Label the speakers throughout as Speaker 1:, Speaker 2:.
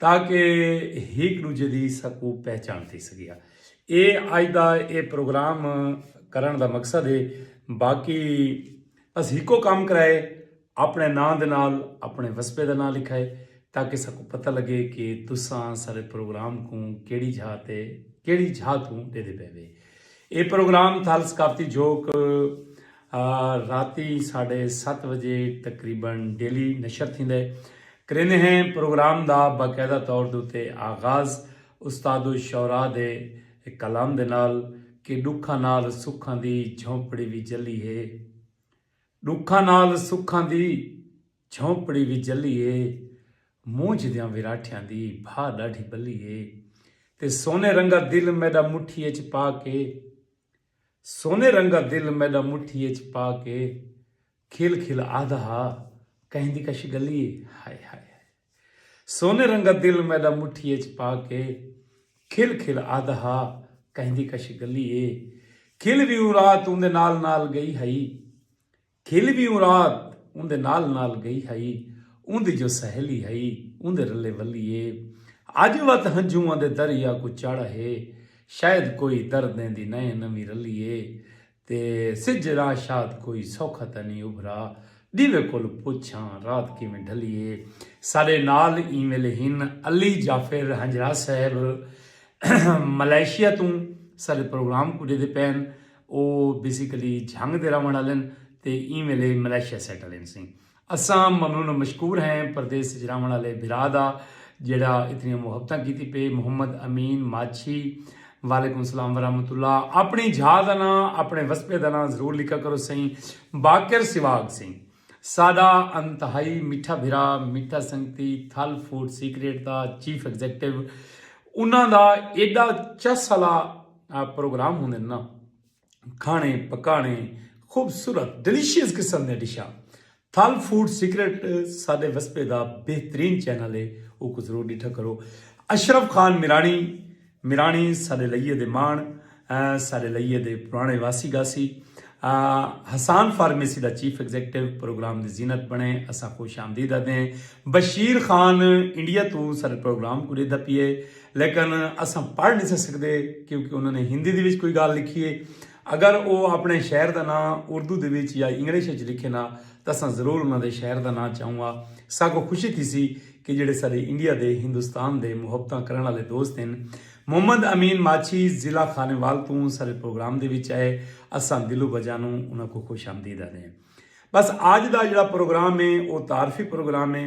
Speaker 1: تاکہ ہک ڈوجھے دی ساکوں پہچان تھی سگے۔ اے اج دا اے پروگرام کرنڑ دا مقصد اے۔ باقی بس ہکو کم کرائے اپنڑے ناں دے نال اپنڑے وسپے دا ناں لکھائے تاکہ ساکوں پتہ لگے کہ تساں ساڈے پروگرام کوں کیڑی جھا تے کیڑی جھا توں ڈیدھے پے وے۔ اے پروگرام تھال ثقافتی جھوک۔ راتی ساڈھے ست وجے تقریبا ڈیلی نشر تھیندے کریندے ہیں پروگرام دا باقاعدہ طور دے اتے آغاز استاد الشعراء دے کلام دے نال کہ ڈکھاں نال سکھاں دی جھونپڑی وی جلی اے ڈکھاں نال سکھاں دی جھونپڑی وی جلی اے مونجھ دیاں وراٹھیاں دی بھا ڈاڈھی بلی اے تے سونے رنگا دل میڈا مٹھی اچ پا کے سونے رنگا دل میڈا مٹھی اچ پا کے کھل کھل آہدا ہا کہیں دی کش گلی اے ہائے ہائے ہائے سونے رنگا دل میڈا مٹھی اچ پا کے کھل کھل آہدا ہا کہیں دی کش گلی اے کھل وی اوں رات اوندے نال نال گئی ہئی کھل وی اوں رات اوندے نال نال گئی ہئی اوندی جو سہیلی ہئی اوندے رلے ولی اے اج وت ہنجھواں دے دریا کوں چڑھ ہے شاید کوئی دردیں دی نئیں نویں رلی اے تے سج راں شاد کوئی سوکھا تاں نی ابھرا ڈیوے کول پچھاں رات کیویں ڈھلی اے ساڈے نال ایں ویلے ہن علی جعفر ہنجرا صاحب ملائیشیا توں ساڈے پروگرام کوں ڈیدے پین او بیسیکلی جھنگ دے رہونڑ آلن تے ایں ویلے ملائیشیا سیٹل ہن سیں۔ اساں ممنون و مشکور ہیں پردیس اچ رہونڑ آلے بھرا دا جیڑھا اتنیاں محبتاں کیتی پئے محمد امین ماچھی وعلیکم سلام ورحمت اللہ اپنڑی جھا دا ناں اپنڑے وسپے دا ناں ضرور لکھا کرو سئیں باقر سواگ سئیں ساڈا انتہائی میٹھا بھرا میٹھا سنگتی تھل فوڈ سیکریٹ دا چیف ایگزیکٹو انہاں دا ایڈا چس آلا پروگرام ہوندن نا کھانے پکانے خوبصورت ڈیلیشیس قسم دے ڈشاں تھل فوڈ سیکرٹ سادے وسپے دا بہترین چینل ہے او کو ضرور ڈٹھا کرو اشرف خان میرانی میرانی سادے لئیے دے مان سادے لئیے دے پرانے واسی گاسی حسان فارمیسی دا چیف ایگزیکٹو پروگرام دی زینت بنے اسا خوش آمدید دیں بشیر خان انڈیا تو سارے پروگرام کو ریدا پیے لیکن اساں پڑھ نساں سکدے کیونکہ انہاں نے ہندی دے وچ کوئی گالھ لکھی ہے۔ اگر او اپنے شہر دا ناں اردو دے وچ یا انگلش وچ لکھن ہا تاں اساں ضرور انہاں دے شہر دا ناں چاہوں ہا۔ ساکوں خوشی تھیسی کہ جیڑھے ساڈے انڈیا دے ہندوستان دے محبتاں کرݨ آلے دوست ہن۔ محمد امین ماچھی ضلع خانیوال توں ساڈے پروگرام دے وچ آئے۔ اساں دل و بجانوں انہاں کوں خوش آمدید آہدے ہیں۔ بس آج دا جیڑھا پروگرام ہے او تعارفی پروگرام ہے۔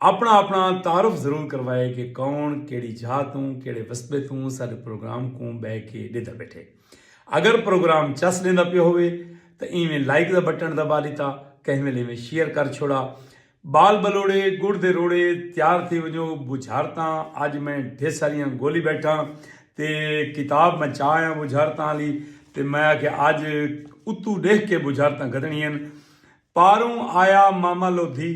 Speaker 1: اپنا اپنا تعارف ضرور کروائے کہ کون کیڑی جھا توں کیڑے وسبے توں ساڈے پروگرام کوں بہ کے ڈیدا بیٹھے اگر پروگرام چس ڈیندا پیا ہوئے تاں ایویں لائک دا بٹن دبا ڈیتا کہیں ویلے ایویں شیئر کر چھوڑا بال بلوڑے گڑ دے روڑے تیار تھی ونجو بجھارتاں اج میں ڈھیر ساریاں گولی بیٹھاں تے کتاب میں چاہ آیا بجھارتاں والی تے میں آ کے اج اتو ڈیکھ کے بجھارتاں گدنی ہیں پاروں آیا ماما لودھی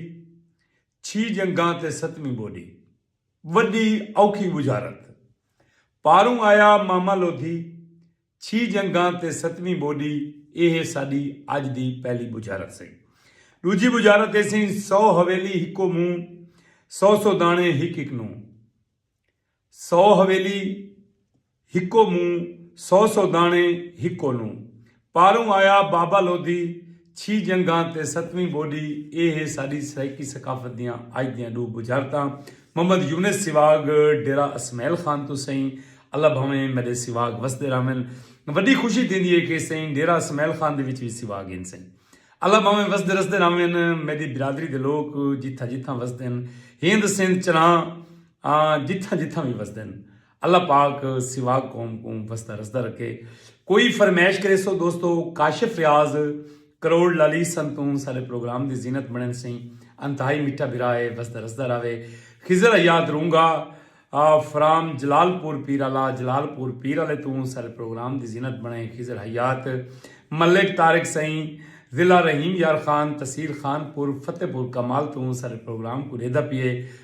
Speaker 1: چھی جنگاں تے ستویں ٻوݙی وݙی اوکھی ٻجھارت پاروں آیا ماما لودھی چھی جنگاں تے ستویں ٻوݙی ایہ ساݙی اڄ دی پہلی ٻجھارت سئیں ݙوجھی ٻجھارت ایسیں سو حویلی ہکو مونہہ سو سو داݨے ہک ہک نوں سو حویلی ہکو منہ سو سو دانے ہکو نو پاروں آیا بابا لودھی چھی جنگاں تے ستویں بوڈی اے ہے ساڈی سرائیکی ثقافت دیاں اج دیاں ڈو بجھارتاں محمد یونس سیواگ ڈیرہ اسمعیل خان توں سئیں اللہ بھاویں میڈے سیواگ وسدے راہون وڈی خوشی تھیندی ہے کہ سئیں ڈیرہ اسمعیل خان دے وچ وی سیواگ ہن سئیں اللہ بھاویں وسدے رسدے راہون میڈی برادری دے لوک جتھاں جتھاں وسدن ہند سندھ چراں آں جتھاں جتھاں وی وسدن۔ اللہ پاک سوا قوم کوں وسدا رسدا رکھے۔ کوئی فرمیش کریسو دوستو کاشف ریاض کروڑ لالی سن توں سارے پروگرام دی زینت بنن سئیں انتہائی مٹھا بھرا ہے وسدا رسدا راوے خضر حیات رونگا فرام جلال پور پیرالا جلال پور پیرالے توں سارے پروگرام دی زینت بنے خضر حیات ملک طارق سئیں ضلع رحیم یار خان تحصیل خان پور فتح پور کمال توں سارے پروگرام کوں ریدا پیے۔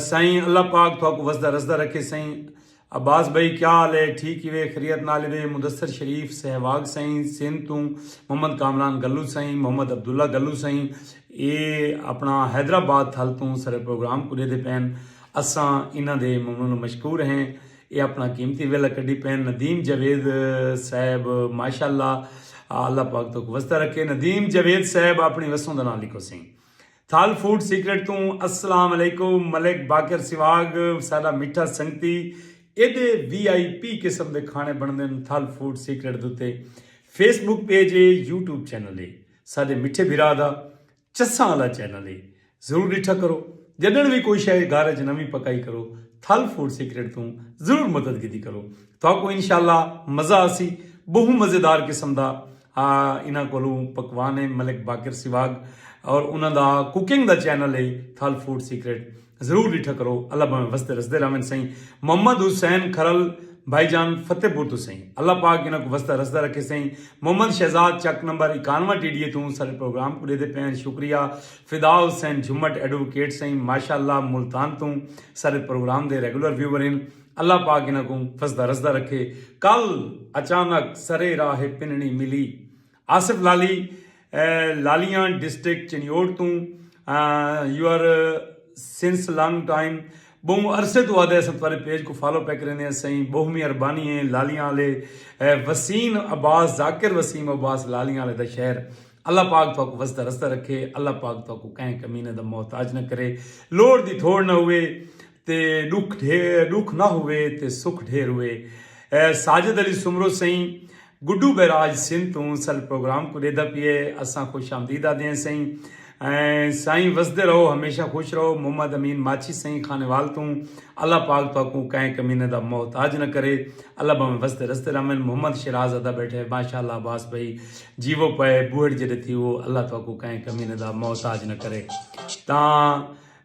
Speaker 1: سائیں اللہ پاک تھاکو وسدا رسدا رکھے سائیں عباس بھائی کیا حال ہے ٹھیک ہی وے خریت نال وے مدثر شریف سہواگ سائیں سندھ تو محمد کامران گلو سائیں محمد عبداللہ گلو سائیں اے اپنا حیدرآباد تھل تو سر پروگرام کو دے پین اساں انہاں دے ممنون مشکور ہیں اے اپنا قیمتی ویلا کڈی پین ندیم جاوید صاحب ماشاءاللہ اللہ پاک تھاکو وسدا رکھے ندیم جاوید صاحب اپنی وسوں دا نام لکھو سائیں تھل فوڈ سیکرٹ توں السلام علیکم ملک باقر سواگ ساڈا میٹھا سنگتی ایڈے وی آئی پی قسم دے کھانے بنڑدن تھل فوڈ سیکرٹ دوتے فیس بک پیج اے یوٹیوب چینل اے ساڈے میٹھے بھرا دا چساں والا چینل اے ضرور ڈٹھا کرو جڈن وی کوئی شے گھر اچ نویں پکائی کرو تھل فوڈ سیکرٹ توں ضرور مدد کیتی کرو تھاکو انشاءاللہ مزہ آسی بہوں مزیدار قسم دا آ انہاں کولوں پکوان ہیں ملک باقر سواگ اور انہاں دا کوکنگ دا چینل ہے تھل فوڈ سیکرٹ ضرور ڈٹھا کرو اللہ بھاویں وسدے رسدے راون سئیں محمد حسین کھرل بھائی جان فتح پور تو سئیں اللہ پاک انہاں کوں وسدا رسدا رکھے سئیں محمد شہزاد چک نمبر اکانواں ٹی ڈی اے توں ساڈے پروگرام کوں ڈیدے پئے ہن شکریہ فدا حسین جھمٹ ایڈووکیٹ سئیں ماشاءاللہ ملتان توں ساڈے پروگرام دے ریگولر ویور ہن اللہ پاک انہاں کوں فسدہ رسدہ رکھے کل اچانک سرے راہ اے پننڑی ملی آصف لالی لالیان ڈسٹرکٹ چنیوٹ توں you are since long time بہوں عرصے تو آدھے اساں تھوارے پیج کو فالو پہ کریندے ہیں سائیں بہو می اربانی ہیں لالیاں والے وسیم عباس ذاکر وسیم عباس لالیاں والے دا شہر اللہ پاک تو کو وسدا رسدا رکھے اللہ پاک تو کو کہیں کمینے دا محتاج نہ کرے لوڑ دی تھوڑ نہ ہوئے تے ݙکھ ڈھیر ݙکھ نہ ہووے تے سکھ ڈھیر ہووے ساجد علی سومرو سئیں گڈو بیراج سندھ توں سل پروگرام کوں ݙیہدا پئے اساں خوش آمدید آہدے ہیں سئیں سائیں وسدے رہو ہمیشہ خوش رہو محمد امین ماچھی سئیں خانیوال توں اللہ پاک تہاکوں کئیں کمینے دا محتاج نہ کرے اللہ بھاویں وسدے رسدے رہون محمد شیراز ادا بیٹھے ماشاءاللہ عباس بھائی جیوو پئے بوہڑ جڈے تھیوو اللہ تہاکوں کئیں کمینے دا محتاج نہ کرے تاں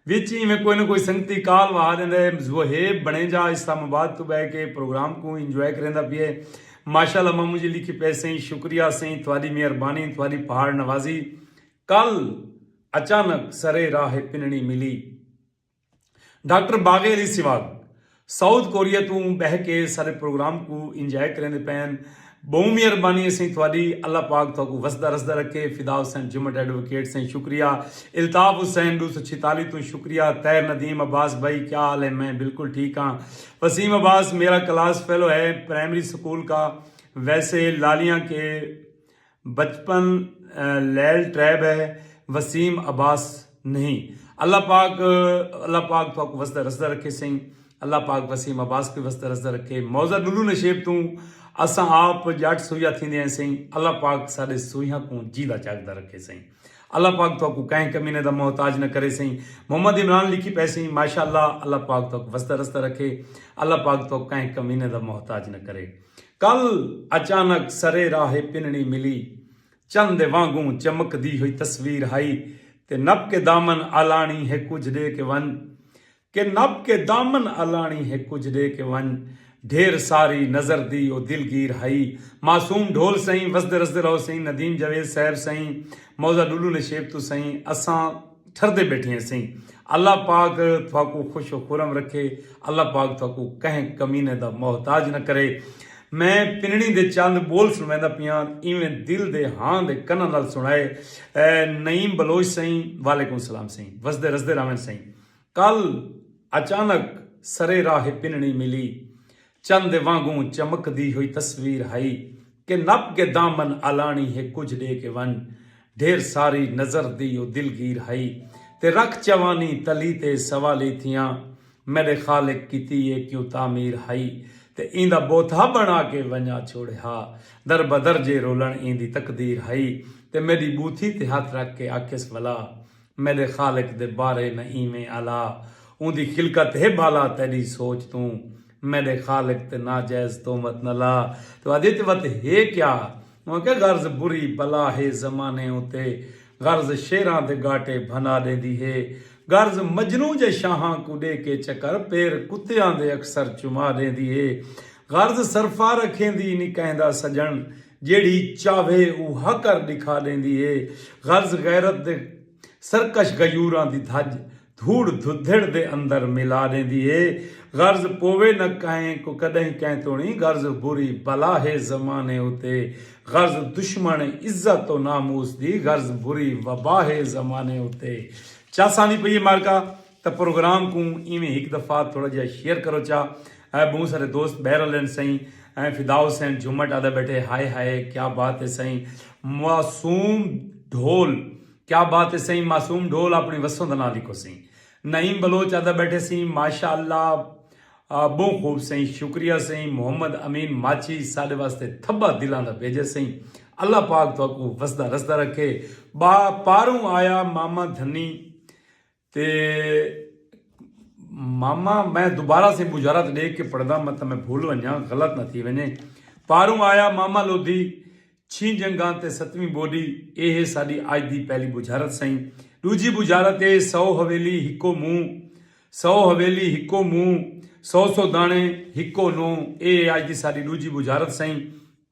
Speaker 1: وچ اینویں کوئی نہ کوئی سنگتی کال وہا ݙیندا ہے ذوہیب بݨیجا اسلام آباد توں ٻہہ کے پروگرام کوں انجوائے کریندا پئے ماشاءاللہ ماموں جی لکھی پئے سئیں شکریہ سئیں تہاݙی مہربانی تہاݙی پہاڑ نوازی کل اچانک سرے راہ پنݨی ملی doctor Baghe Ali Sial South Korea توں بہہ کے سارے پروگرام کوں انجوائے کریندے پئن بہوں مہربانی اسیں تھوڑی اللہ پاک تہاکوں وسدا رسدا رکھے فدا حسین جمٹ ایڈووکیٹ سئیں شکریہ الطاف حسین ݙو سو چھیتالیس توں شکریہ طاہر ندیم عباس بھائی کیا حال ہے میں بالکل ٹھیک ہاں وسیم عباس میرا کلاس فیلو ہے پرائمری سکول کا ویسے لالیاں کے بچپن لیل ٹریب ہے وسیم عباس نہیں اللہ پاک اللہ پاک تھاکو وسدا رسدا رکھے سئیں اللہ پاک وسیم عباس کو وسدا رسدا رکھے موضع ڈلو نشیب توں اساں آپ جٹ سویہ تھیندے ہیں سئیں اللہ پاک ساڈے سویہاں کوں جیندا جاگدا رکھے سئیں اللہ پاک تھاکو کہیں کمینے دا محتاج نہ کرے سئیں محمد عمران لکھی پئے سئیں ماشاءاللہ اللہ پاک تھاکو وسدا رسدا رکھے اللہ پاک تھاکو کہیں کمینے دا محتاج نہ کرے کل اچانک سرے راہ پنڑی ملی۔ چن دے وانگوں چمک دی ہوئی تصویر ہئی تے نپ کے دامن آلانڑی ہے کجھ ڈے کے ونج کے نپ کے دامن آلانڑی ہے کجھ ڈے کے ونج ڈھیر ساری نظر دی او دلگیر ہئی معصوم ڈھول سئیں وسدے رسدے رہو سئیں ندیم جاوید صاحب سئیں موضہ ڈلو نشیب تو سئیں اساں ٹھردے بیٹھے ہسیں اللہ پاک تھاکوں خوش و خرم رکھے اللہ پاک تھاکوں کہیں کمینے دا محتاج نہ کرے میں پنڑی دے چند بول سنویندا پیاں ایویں دل دے ہاں دے کناں نال سنڑائے نعیم بلوچ سئیں وعلیکم سلام سئیں وسدے رسدے راوین سئیں کل اچانک سرے راہ پنڑی ملی چن دے وانگوں چمکدی ہوئی تصویر ہئی کہ نپ کے دامن الانڑی ہے کجھ ڈے کے ونج ڈھیر ساری نظر دی او دلگیر ہئی تے رکھ چوانی تلی تے سوالی تھیاں میڈے خالق کیتی اے کیوں تعمیر ہئی تے ایندا بوتھا بنڑا کے ونجا چھوڑے ہا در بدر جے رولنڑ ایندی تقدیر ہئی تے میڈی بوتھی تے ہتھ رکھ کے آکھیس ولا میڈے خالق دے بارے نہ ایویں الا اوندی خلقت ہے بھالا تیڈی سوچ توں میڈے خالق تے ناجائز تہمت نہ لا تو ادے تے وت ہے کیا اوں آکھیا غرض بری بلا ہے زمانے اتے غرض شعراں دے گاٹے بھنا ڈیندی ہے غرض مجنوں جے شاہاں کوں ڈے کے چکر پیر کتیاں دے اکثر چما ڈیندی ہے غرض سرفا رکھیندی نی کہندا سجن جیڑھی چاہوے او ہا کر ڈکھا ڈیندی ہے غرض غیرت دے سرکش غیوراں دی دھج دھوڑ دھدھڑ دے اندر ملا ڈیندی ہے غرض پووے نہ کہیں کو کڈہیں کہیں توڑیں غرض بری بلا ہے زمانے اتے غرض دشمن عزت و ناموس دی غرض بری وبا ہے زمانے اتے چس آندی پئی ہے معرکہ تاں پروگرام کوں ایویں ہک دفعہ تھوڑا جیہا شیئر کرو چا اے بہوں سارے دوست بہہ رلن سئیں ایں فدا حسین جھومٹ آدھے بیٹھے ہائے ہائے کیا بات ہے سئیں معصوم ڈھول کیا بات ہے سئیں معصوم ڈھول اپنی وسوں دا ناں لکھو سئیں نعیم بلوچ آدھے بیٹھے سئیں ماشاء اللہ بہوں خوب سئیں شکریہ سئیں محمد امین ماچھی ساڈے واسطے تھبا دلاں دا بھیجے سئیں اللہ پاک تہاکوں وسدا رسدا رکھے با پاروں آیا ماما دھنی تے ماما میں دوبارہ سے مجارت ڈیکھ کے پڑھدا مت میں بھول ونجا غلط نہ تھی ونجے پاروں آیا ماما لودھی چھیں جنگاں تے ستویں بوڈی اے ہے ساڈی اج دی پہلی بجارت سئیں ڈوجھی بجارت اے سو حویلی ہکو منہ سو حویلی ہکو منہ سو سو دانے ہکو نو اے ہے اج دی ساڈی ڈوجھی بجارت سئیں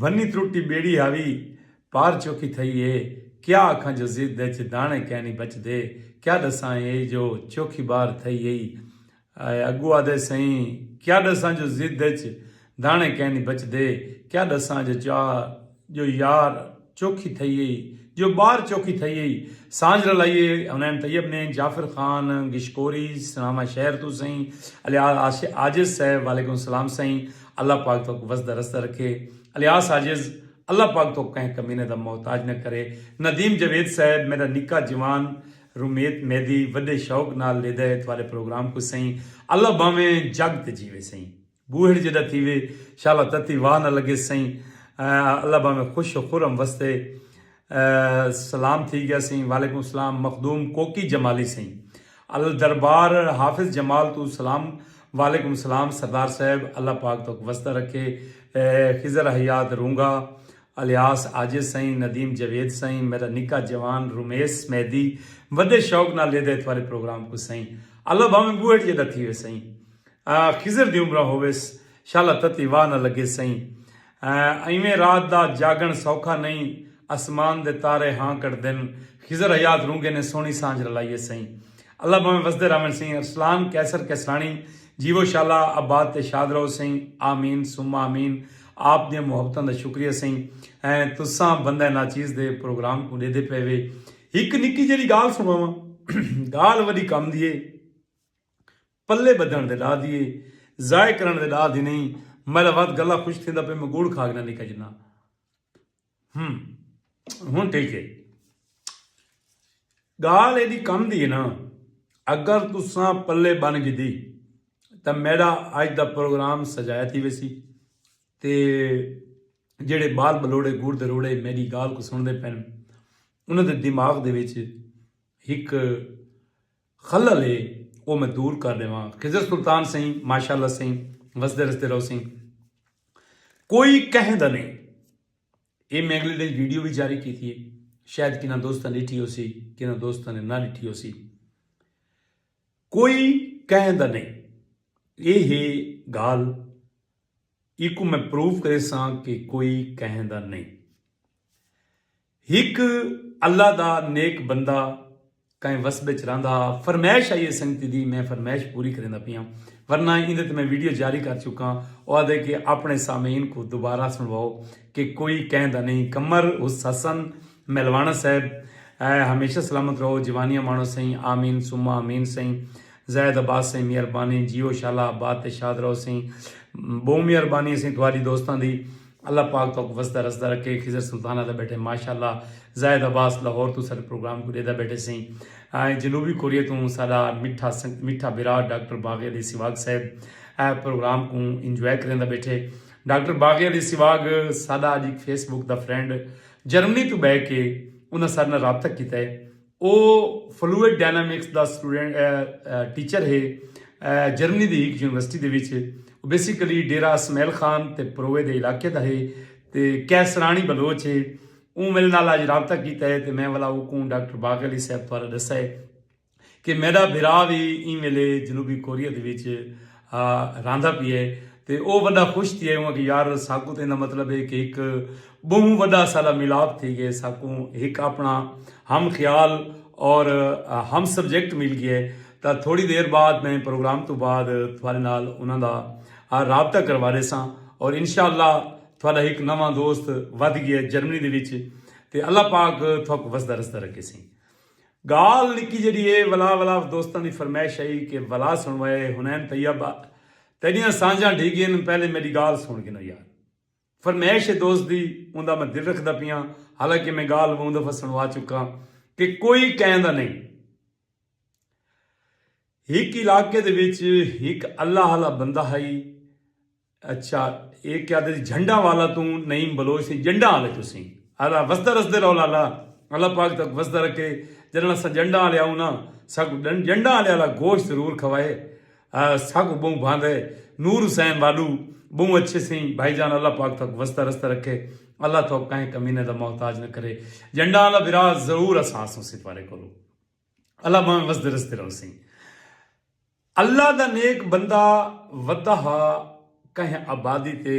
Speaker 1: بھنی ترٹی بیڑی ہاوی پار چوکی تھئی اے کیا آکھاں جو ضد اچ داݨے کینی بچدے کیا ݙساں اے جو چوکی بار تھئی اے اڳو آدھے سئیں کیا ݙساں جو ضد اچ داݨے کینی بچدے کیا ݙساں جو چا جو یار چوکھی تھئی ہئی جو بار چوکھی تھئی ہئی سانجھ رلائی ہئی حنین طیب نے جعفر خان گشکوری سناواں شہر توں سئیں الیاس عاجز صاحب وعلیکم السلام سئیں اللہ پاک تہاکوں وسدا رسدا رکھے الیاس عاجز اللہ پاک تہاکوں کہیں کمینے دا محتاج نہ کرے ندیم جاوید صاحب میڈا نکا جوان رومیت میدی وڈے شوق نال لیدا ہے تہاڈے پروگرام کوں سئیں اللہ بھاویں جگ تے جیوے سئیں۔ بوہڑ جیڈا تھیوے شالا تتی واہ نہ لگے سئیں اللہ بھاویں خوش و خرم وستے سلام تھی گیا سئیں وعلیکم سلام مخدوم کوکی جمالی سئیں الدربار حافظ جمال توں سلام وعلیکم سلام سردار صاحب اللہ پاک تہک وسدا رکھے خضر حیات رونگا الیاس عاجز سئیں ندیم جاوید سئیں میڈا نکا جوان رمیس مہدی وڈے شوق نال لیدا ہے تھوارے پروگرام کوں سئیں اللہ بھاویں بوہڑ جیڈا تھیوے سئیں۔ خضر دی عمراں ہوویس شالا تتی واہ نہ لگے سئیں ایویں رات دا جاگݨ سوکھا نئیں اسمان دے تارے ہاں کڈھدن خضر حیات رونگے نے سوہݨی سانجھ رلائیے سئیں اللہ بھانویں وسدے راہون سئیں ارسلان قیصر قیصراݨی جیوو شالا آباد تے شاد رہو سئیں آمین ثم آمین آپ دیاں محبتاں دا شکریہ سئیں تساں بندہ ناچیز دے پروگرام کوں ݙیدھے پئے وے ہک نکی جیڑھی گالھ سݨاواں گالھ وݙی کم دی اے۔ پلے بدھن دے ڈاہ دی اے ضائع کرن دے ڈاہ دی نہیں میلا وات گلا خوش تھیندا پے میں گوڑ کھا گنا نکا جنا ہم ہن ٹھیک ہے گال ایڈی کم دی ہے نا اگر تساں پلے بن گی دی تا میڈا آج دا پروگرام سجایا تھی ویسی تے جڑے بال بلوڑے گوڑ دے روڑے میری گال کو سن دے پین انہوں دے دماغ دے ویچے ہک خلل ہے او میں دور کر ڈیواں خضر سلطان سئیں ماشاءاللہ سئیں وسدے رسدے رہو سئیں کوئی کہیں دا نہیں اے میں اگلے ڈے ویڈیو بھی جاری کی تھی شاید کنا دوستاں ڈٹھی ہو سی کنا دوستاں نے نہ ڈٹھی ہو سی کوئی کہیں دا نہیں اے ہے گال ایکو میں پروف کرے ساں کہ کوئی کہیں دا نہیں ہک اللہ دا نیک بندہ کائیں وسب اچ رہندا ہا۔ فرمائش آئی ہے سنگتی دی میں فرمائش پوری کریندا پیاں ورنہ ایندے تے میں ویڈیو جاری کر چکاں او آہدے کہ آپنڑے سامعین کوں دوبارہ سنڑواؤ کہ کوئی کہیں دا نہیں قمر حسن میلوانا صاحب ہمیشہ سلامت رہو جوانیاں مانڑو سئیں آمین ثم آمین سئیں زاہد عباس سئیں مہربانی جیو شالا آباد تے شاد رہو سئیں بہوں مہربانی سئیں تہاڈی دوستاں دی۔ اللہ پاک توک وسدا رسدا رکھے خضر سلطان آدا بیٹھے ماشاءاللہ زاہد عباس لاہور توں ساڈے پروگرام کوں ڈیدا بیٹھے سئیں جنوبی کوریا توں ساڈا مٹھا مٹھا برا ڈاکٹر باغی علی سواگ صاحب اے پروگرام کوں انجوائے کریندا بیٹھے ڈاکٹر باغی علی سواگ ساڈا اج fees book the friend Germany توں بہ کے انہاں ساڈے نال رابطہ کیتا ہے او فلوئڈ ڈائنامکس دا ٹیچر ہے جرمنی دی ہک یونیورسٹی دے وچ او بیسیکلی ڈیرہ اسمیل خان تے پروے دے علاقے دا ہے تے کیسرانی بلوچ ہے اوں میرے نال اج رابطہ کیتا ہے تے میں ولا اوکوں ڈاکٹر باغ علی صاحب بارے ڈسا ہے کہ میڈا بھرا وی ایں ویلے جنوبی کوریا دے وچ رہندا پی ہے تے او وڈا خوش تھیے اوں آکھیے یار ساکوں تے ایندا مطلب ہے کہ ہک بہوں وڈا ساڈا ملاپ تھی گئے ساکوں ہک اپنا ہم خیال اور ہم سبجیکٹ مل گئے تاں تھوڑی دیر بعد میں پروگرام تو بعد تھوڑے نال انہاں دا رابطہ کروا دے ساں اور انشاءاللہ تھوڑا ہک نواں دوست ودھ گئے جرمنی دے وچ تے اللہ پاک تھوک وسدا رسدا رکھے سیں۔ گالھ نکی جیڑھی اے ولا ولا دوستاں دی فرمائش ہئی کہ ولا سنڑوائے حنین طیب آ تیڈیاں سانجھاں ڈھی گین پہلے میڈی گالھ سنڑ گنو یار فرمائش اے دوست دی اوندا میں دل رکھدا پیاں حالانکہ میں گالھ ووں دفعہ سنڑوا چکاں کہ کوئی کہندا نئیں ہک علاقے دے وچ ہک اللہ آلا بندہ ہئی اچھا اے کیا دے جھنڈا والا توں نعیم بلوچ سے جنڈا والے تسی الا وسدا رسدے رول الا اللہ پاک تک وسدا رکھے جنڑا سا جنڈا والے آؤں نا ساکو جنڈا والے الا گوشت ضرور کھوائے ساکو بہوں بھاند ہے نور حسین والو بہوں اچھے سے بھائی جان اللہ پاک تک وسدا رسدا رکھے اللہ تو کہیں کمینے دا محتاج نہ کرے جنڈا والا برا ضرور اساس ہوں سپارے کرو اللہ بہوں وسدا رسدا رول سے اللہ دا نیک بندہ ودا ہا کہیں آبادی تے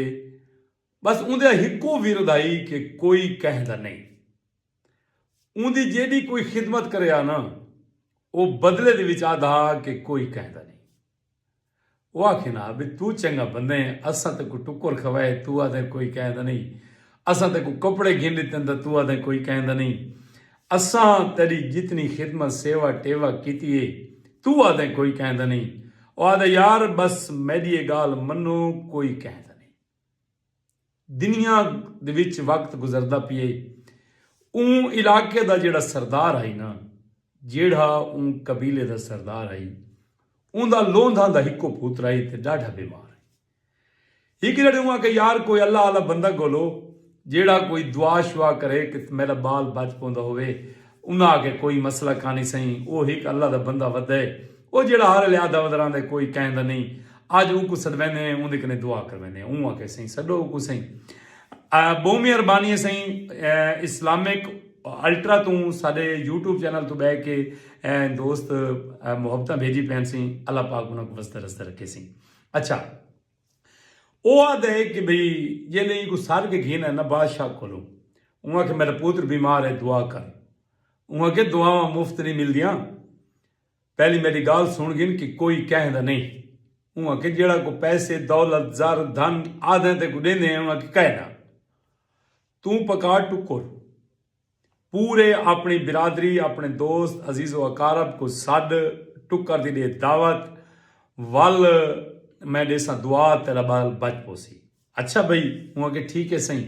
Speaker 1: بس اوندے ہکو ورد ہائی کہ کوئی کہیں دا نئیں اوندی جیڈی کوئی خدمت کرے ہا نا او بدلے دے وچ آدھا ہا کہ کوئی کہیں دا نئیں او آکھیں ہا بھئی تو چنگا بندہ ہیں اساں تے کو ٹکر کھوائے تو آدھیں کوئی کہیں دا نئیں اساں تے کو کپڑے گھن ڈتن تے تو آدھیں کوئی کہیں دا نئیں اساں تیڈی جتنی خدمت سیوا ٹیوا کیتی ہے توں آدھیں کوئی کہیں دا نئیں او آدھے یار بس میڈی اے گالھ منو کوئی کہیں دا نئیں دنیا دے وچ وقت گزردا پئے اوں علاقے دا جیڑھا سردار ہئی نا جیڑھا اوں قبیلے دا سردار ہئی اوندا لوندھاں دا ہکو پوترا ہئی تے ڈاڈھا بیمار ہئی ہک جڑے اواں کہ یار کوئی اللہ آلا بندہ گولو جیڑا کوئی دعا شعا کرے کہ میڈا بال بچ پوندا ہووے انہاں آکھے کوئی مسئلہ کانی سئیں او ہک اللہ دا بندہ ودے او جیڑا ہر ویلے آہدا ودرا ہندے کوئی کہیں دا نئیں اج اوکوں سڈویندے ہیں اوندے کنے دعا کرویندے ہیں اوں آکھے سئیں سڈو اوکوں سئیں بہوں مہربانی ہے سئیں اسلامک الٹرا توں ساڈے یوٹیوب چینل تو بہ کے دوست محبتاں بھیجی پین سئیں اللہ پاک انہاں کو وسدے رسدے رکھے سئیں اچھا او آدھے کہ بھئی جے لے کو سال کے گھینا ہے نا بادشاہ کھولو اوں آکھے میرا پوتر بیمار ہے دعا کر اوں آکھے دعاواں مفت نہیں مل دیاں پہلی میری گال سن گھن کہ کوئی کہہ دا نہیں اوں آکھے جیڑا کو پیسے دولت زر دھن آدھے تے کو دیندے ہیں اوں آکھے کہنا توں پکا ٹکر پورے اپݨی برادری، اپݨے دوست، عزیز و اقارب کوں سݙ، ٹکر دی ݙے دعوت، ول میں ݙیساں دعا تیݙا ٻال بچ پوسی۔ اچھا بھئی، اوں آکھیا ٹھیک ہے سئیں۔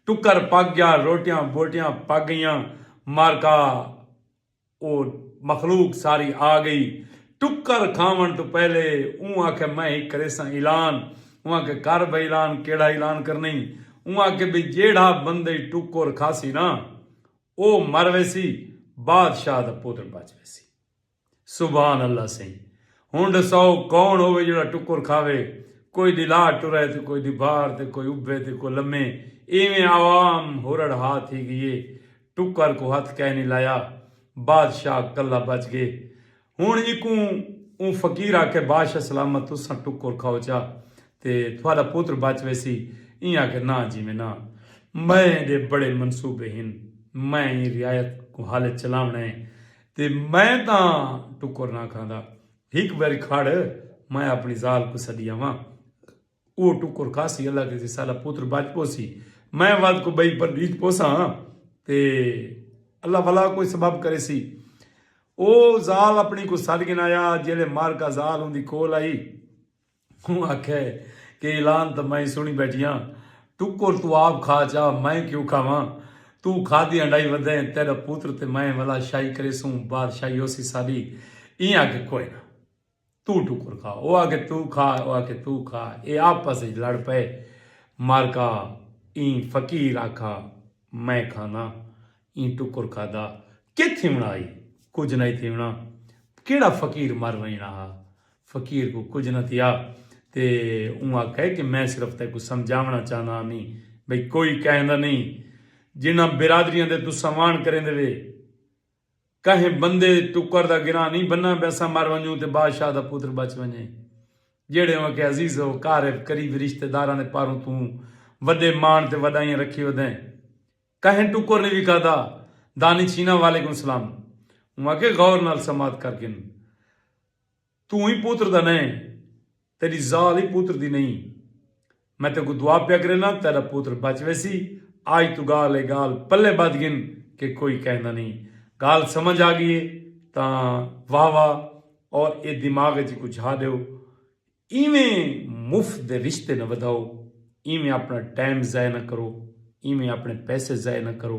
Speaker 1: ٹکر پک ڳیا، روٹیاں ٻوٹیاں پک ڳئیاں، مارکا۔ او مخلوق ساری آ گئی ٹکر کھاوݨ توں پہلے اوں آکھیا میں ہک کریساں اعلان اوں آکھیا کر بھئی اعلان کیڑھا اعلان کرنیں اوں آکھیا بھئی جیڑھا بندے ٹکر کھاسی نا او مر ویسی بادشاہ دا پتر بچ ویسی سبحان اللہ سئیں ہن ڈساؤ کون ہووے جیڑھا ٹکر کھاوے کوئی دی لا ٹرے تے کوئی دی بھار تے کوئی ابھے تے کوئی لمے ایویں عوام ہرڑ ہا تھی گئی اے ٹکر کوں ہتھ کائنی لایا۔ بادشاہ کلہ بچ گئے۔ ہنڑ ایکوں اوں فقیر آکھیا بادشاہ سلامت تساں ٹکر کھاؤ چا تے تھوڈا پتر بچ ویسی۔ ایں آکھیا نہ جی میں نہ۔ میں دے بڑے منصوبے ہن۔ میں ایں رعایت کوں حل اچ چلاونڑاں ہے تے میں تاں ٹکر نہ کھاندا۔ ہک واری کھڑ میں اپنڑی ذال کوں سڈی آواں۔ او ٹکر کھاسی اللہ کیسی ساڈا پتر بچ پوسی میں ود کو بئی پر ڈیج پوسا ہاں تے اللہ ولا کوئی سبب کرے سی او زال اپنی کو سڈ گن آیا جیلے مار کا زال ان دی کول آئی ہوں آکھے کہ اعلان تو میں سنی بیٹھیاں ٹکر تو آپ کھا چا میں کیوں کھاواں تو کھا دی انڈائی ودے تیرا پتر تے میں ولا شاہی کرے سوں بادشاہی ہو سی ساڈی این آکھے کوئی نہ توں ٹکر کھا، او آکھے توں کھا، او آکھے توں کھا، اے آپس اچ لڑ پئے، مارکا ایں فقیر آکھا میں کھانا، ایں ٹکر کھادا، کے تھیوݨا ہئی، کجھ نہ تھیوݨا، کیڑھا فقیر مر ویݨا ہا، فقیر کوں کجھ نہ تھیا تے اوں آکھے کہ میں صرف تیکوں سمجھاوݨا چاہندا ہمی بھئی کوئی کہندا نئیں جنہاں برادریاں دے تساں وان کریندے وے، کہیں بندے دے ٹکر دا گراں نئیں بننا پیساں مر ونجوں تے بادشاہ دا پتر بچ ونجے جیہڑے اوں اکھے عزیز و قارب قریبی رشتہ داراں دے پاروں توں وڈے ماݨ تے وڈائیاں رکھی ودیں کہیں ٹکر نئیں وکھادا دانی چھینا وعلیکم سلام اوں اکھے غور نال سماعت کر گھن توں ای پتر دا نئیں تیڈی ذال ای پتر دی نئیں میں تیکوں دعا پیا کرینداں تیڈا پتر بچ ویسی آج توں گال اے گال پلے بدھ گھن کہ کوئی کہندا نئیں گال سمجھ آگئی اے تاں واہ واہ اور اے دماغ اچ اکوں جھا ڈیو ایویں مفت دے رشتے نہ ودھاؤ ایویں اپنا ٹائم ضائع نہ کرو ایویں اپنے پیسے ضائع نہ کرو۔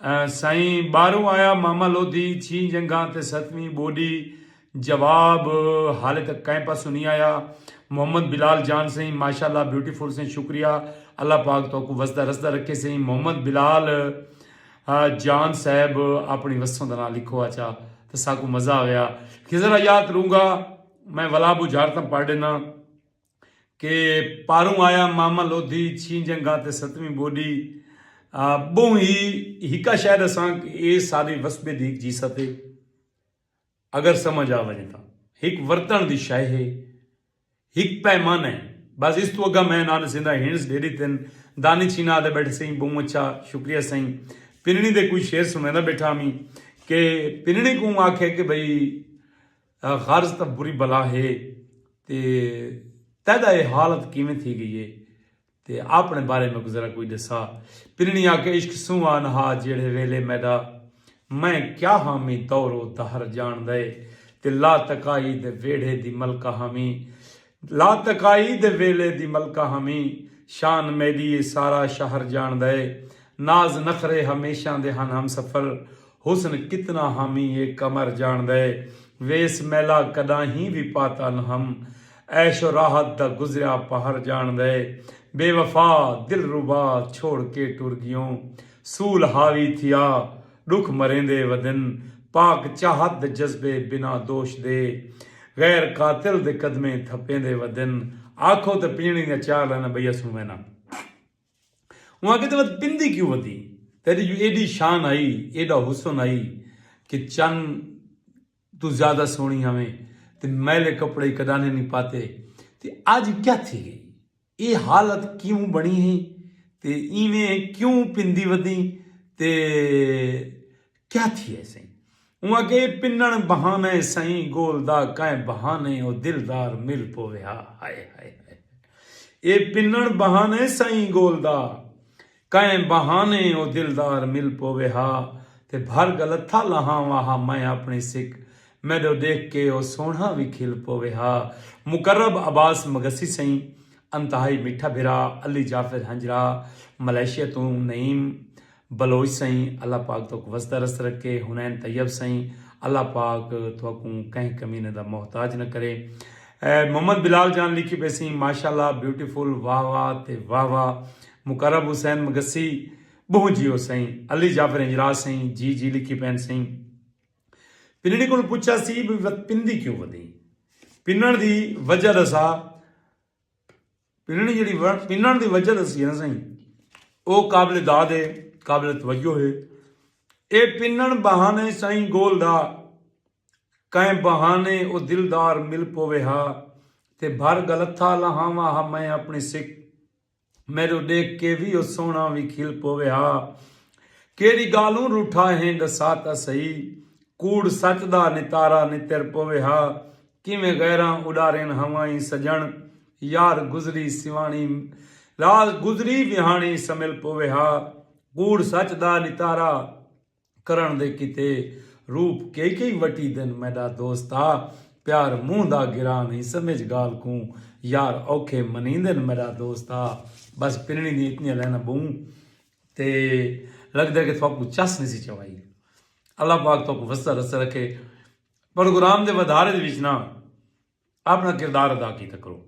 Speaker 1: سائیں ٻاہروں آیا ماما لودھی چھی جنگاں تے ستویں ٻوڈی جواب حالے تک کئیں پاسوں نی آیا محمد بلال جان سائیں ماشاءاللہ بیوٹیفل سائیں شکریہ اللہ پاک توکوں وسدا رسدا رکھے سائیں محمد بلال جان صاحب اپنی وسوں دا ناں لکھو آچا تے ساکوں مزہ آویا خضر حیات رونگا میں ولابو جھارتم پڑھ ڈینا کہ پاروں آیا ماما لودھی چھیں جنگا تے ستویں بوڈی بہوں ہی ہکا شے دساں کہ اے سارے وسبے دی ہک جیست ہے اگر سمجھ آ ونجے تاں ہک ورتن دی شے ہے ہک پیمانہ ہے بس اس توں اگا میں نہ ڈسیندا ہنس ڈیڈی تن دانی چھینا آدھے بیٹھے سئیں بہوں اچھا شکریہ سئیں پننی دے کوئی شعر سنویندا بیٹھا ہمیں کہ پننی کوں آکھے کہ بھئی غرض تاں بری بلا ہے تے تیڈا اے حالت کیویں تھی گئی ہے تے آپنے بارے میکوں ذرا کوئی ڈسا پنڑی آکھے عشق سوں آن ہا جیڑھے ویلے میڈا میں کیا ہامی دور و دہر جانڑدا ہے تے لا تکائی دے ویڑھے دی ملکہ ہامی لاتکائی دے ویلے دی ملکہ ہمیں شان میڈی اے سارا شہر جانڑدا اے ناز نخرے ہمیشاں دے ہن ہم سفر حسن کتنا ہمیں اے قمر جانڑدا اے ویس میلا کڈاہیں وی پاتا نہ ہم عیش و راحت دا گزریا پہر جانڑدا اے بے وفا دلربا چھوڑ کے ٹر گیوں سول حاوی تھیا ݙکھ مریندے ودن پاک چاہت دے جذبے بنا دوش دے غیر قاتل دے قدمیں تھپیندے ودن آکھو تے پنجڑیں دیاں چار لائناں ٻئی اسوں وینا اوں آکھے تے ود پندی کیوں ودی تیݙی جو ایݙی شان ہئی ایݙا حسن ہئی کہ چن توں زیادہ سوہݨی ہاویں تے میلے کپڑے کݙانہیں نی پاتے تے اڄ کیا تھی ڳئی اے حالت کیوں بݨی ہئی تے اینویں کیوں پندی ودی تے کیا تھی ہے سئیں؟ اوں آکھیا اے پنݨ بہانہ ہے سئیں گول دا کائیں بہانے او دلدار مل پووے ہا ہائے ہائے ہائے ہائے اے پنݨ بہانہ ہے سئیں گول دا۔ کئیں بہانے او دلدار مل پووے ہا تے بھر گلتھا لہانوا ہا میں اپݨی سک میݙو ݙیکھ کے او سوہݨا وی کھل پووے ہا مقرب عباس مگسی سئیں انتہائی میٹھا بھرا علی جعفر ہنجرا ملائیشیا توں نعیم بلوچ سئیں اللہ پاک تہاکوں وس درست رکھے حنین طیب سئیں اللہ پاک تہاکوں کہیں کمینے دا محتاج نہ کرے محمد بلال جان لکھی پئے سئیں ماشاءاللہ بیوٹیفل واہ واہ تے واہ واہ مقرب حسین مگسی بہوں جیو سئیں علی جعفر ہنجراہ سئیں جی جی لکھی پین سئیں پنڑی کول پچھا سی بھئی وت پندی کیوں ودی پنڑ دی وجہ دسا پنڑی جڑی پنڑ دی وجہ دسی ہے نا سائیں او قابل داد ہے قابل توجہ ہے اے پنڑ بہانے سائیں گول دا کئے بہانے او دلدار مل پوے ہا تے بھر گلتھا لہاواں ہا میں اپنی سکھ میڈو ڈیکھ کے وی او سوہنڑا وی کھل پووے ہا۔ کیڑی گالوں روٹھا ہیں ڈسا تاں سہی۔ کوڑ سچ دا نتارا نتر پووے ہا۔ کیویں غیراں اڈارین ہوائیں سجنڑ۔ یار گزری سیوانڑی راہ گزری ویہانڑی سمل پووے ہا۔ کوڑ سچ دا نتارا۔ کرݨ دے کیتے روپ کئی کئی وٹی دن میݙا دوست آ پیار منہ دا گراں نہیں سمجھ ڳالھ کوں یار اوکھے منیندن میݙا دوست آ بس پنڑی دیاں اتنیاں لائناں ٻہوں تے لڳدے کہ تھاکوں چس نہیں سی چوائی اللہ پاک تھاکوں وسدا رسدا رکھے پروگرام دے ودھارے دے وچ نا اپݨا کردار ادا کیتا کرو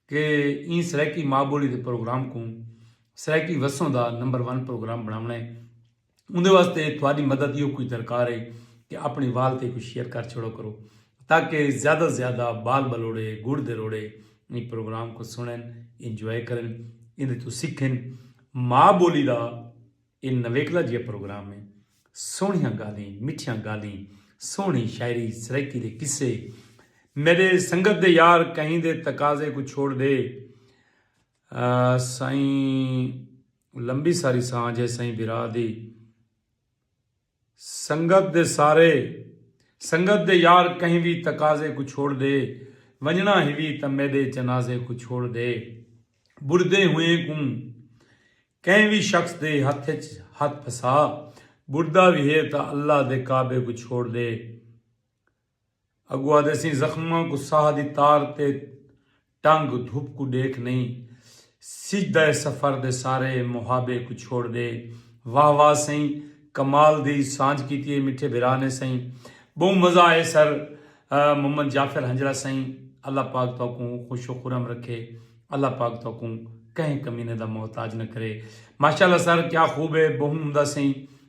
Speaker 1: کہ ایں سرائیکی ماء بولی دے پروگرام کوں سرائیکی وسوں دا نمبر ون پروگرام بݨاوݨا ہے اوندے واسطے تہاݙی مدد ایہو کوئی درکار ہے کہ اپݨے وال تے کوں شیئر کر چھوڑا کرو تاکہ زیادہ زیادہ بال بلوڑے گڑ دے روڑے ایں پروگرام کوں سݨن انجوائے کرن ایندے توں سکھن ماء بولی دا اے نویکلا جیہا پروگرام ہے۔ سوہنیاں گالھیں، مٹھیاں گالھیں، سوہنی شاعری، سرائیکی دے قصے۔ میݙے سنگت دے یار کہیں دے تقاضے کوں چھوڑ ݙے۔ سئیں لمبی ساری سانجھ ہے سئیں بھرا دی۔ سنگت دے سارے سنگت دے یار کہیں وی تقاضے کوں چھوڑ دے ونجنڑاں ہیوی تاں میڈے جنازے کوں چھوڑ دے بڑھدے ہوئیں کوں کہیں وی شخص دے ہتھ اچ ہتھ پھسا بڑھدا وی ہے تاں اللہ دے کعبے کوں چھوڑ دے اگو آدھے سیں زخماں کوں ساہ دی تار تے ٹنگ دھپ کوں ڈیکھ نئیں سجدا اے سفر دے سارے محابے کوں چھوڑ دے واہ واہ سئیں کمال دی سانجھ کیتی اے میٹھے بھرا نے سئیں بہوں مزہ آئے سر محمد جعفر ہنجرا سئیں اللہ پاک تہاکوں خوش و خرم رکھے اللہ پاک تہاکوں کہیں کمینے دا محتاج نہ کرے ماشاءاللہ سر کیا خوب اے بہوں عمدہ سئیں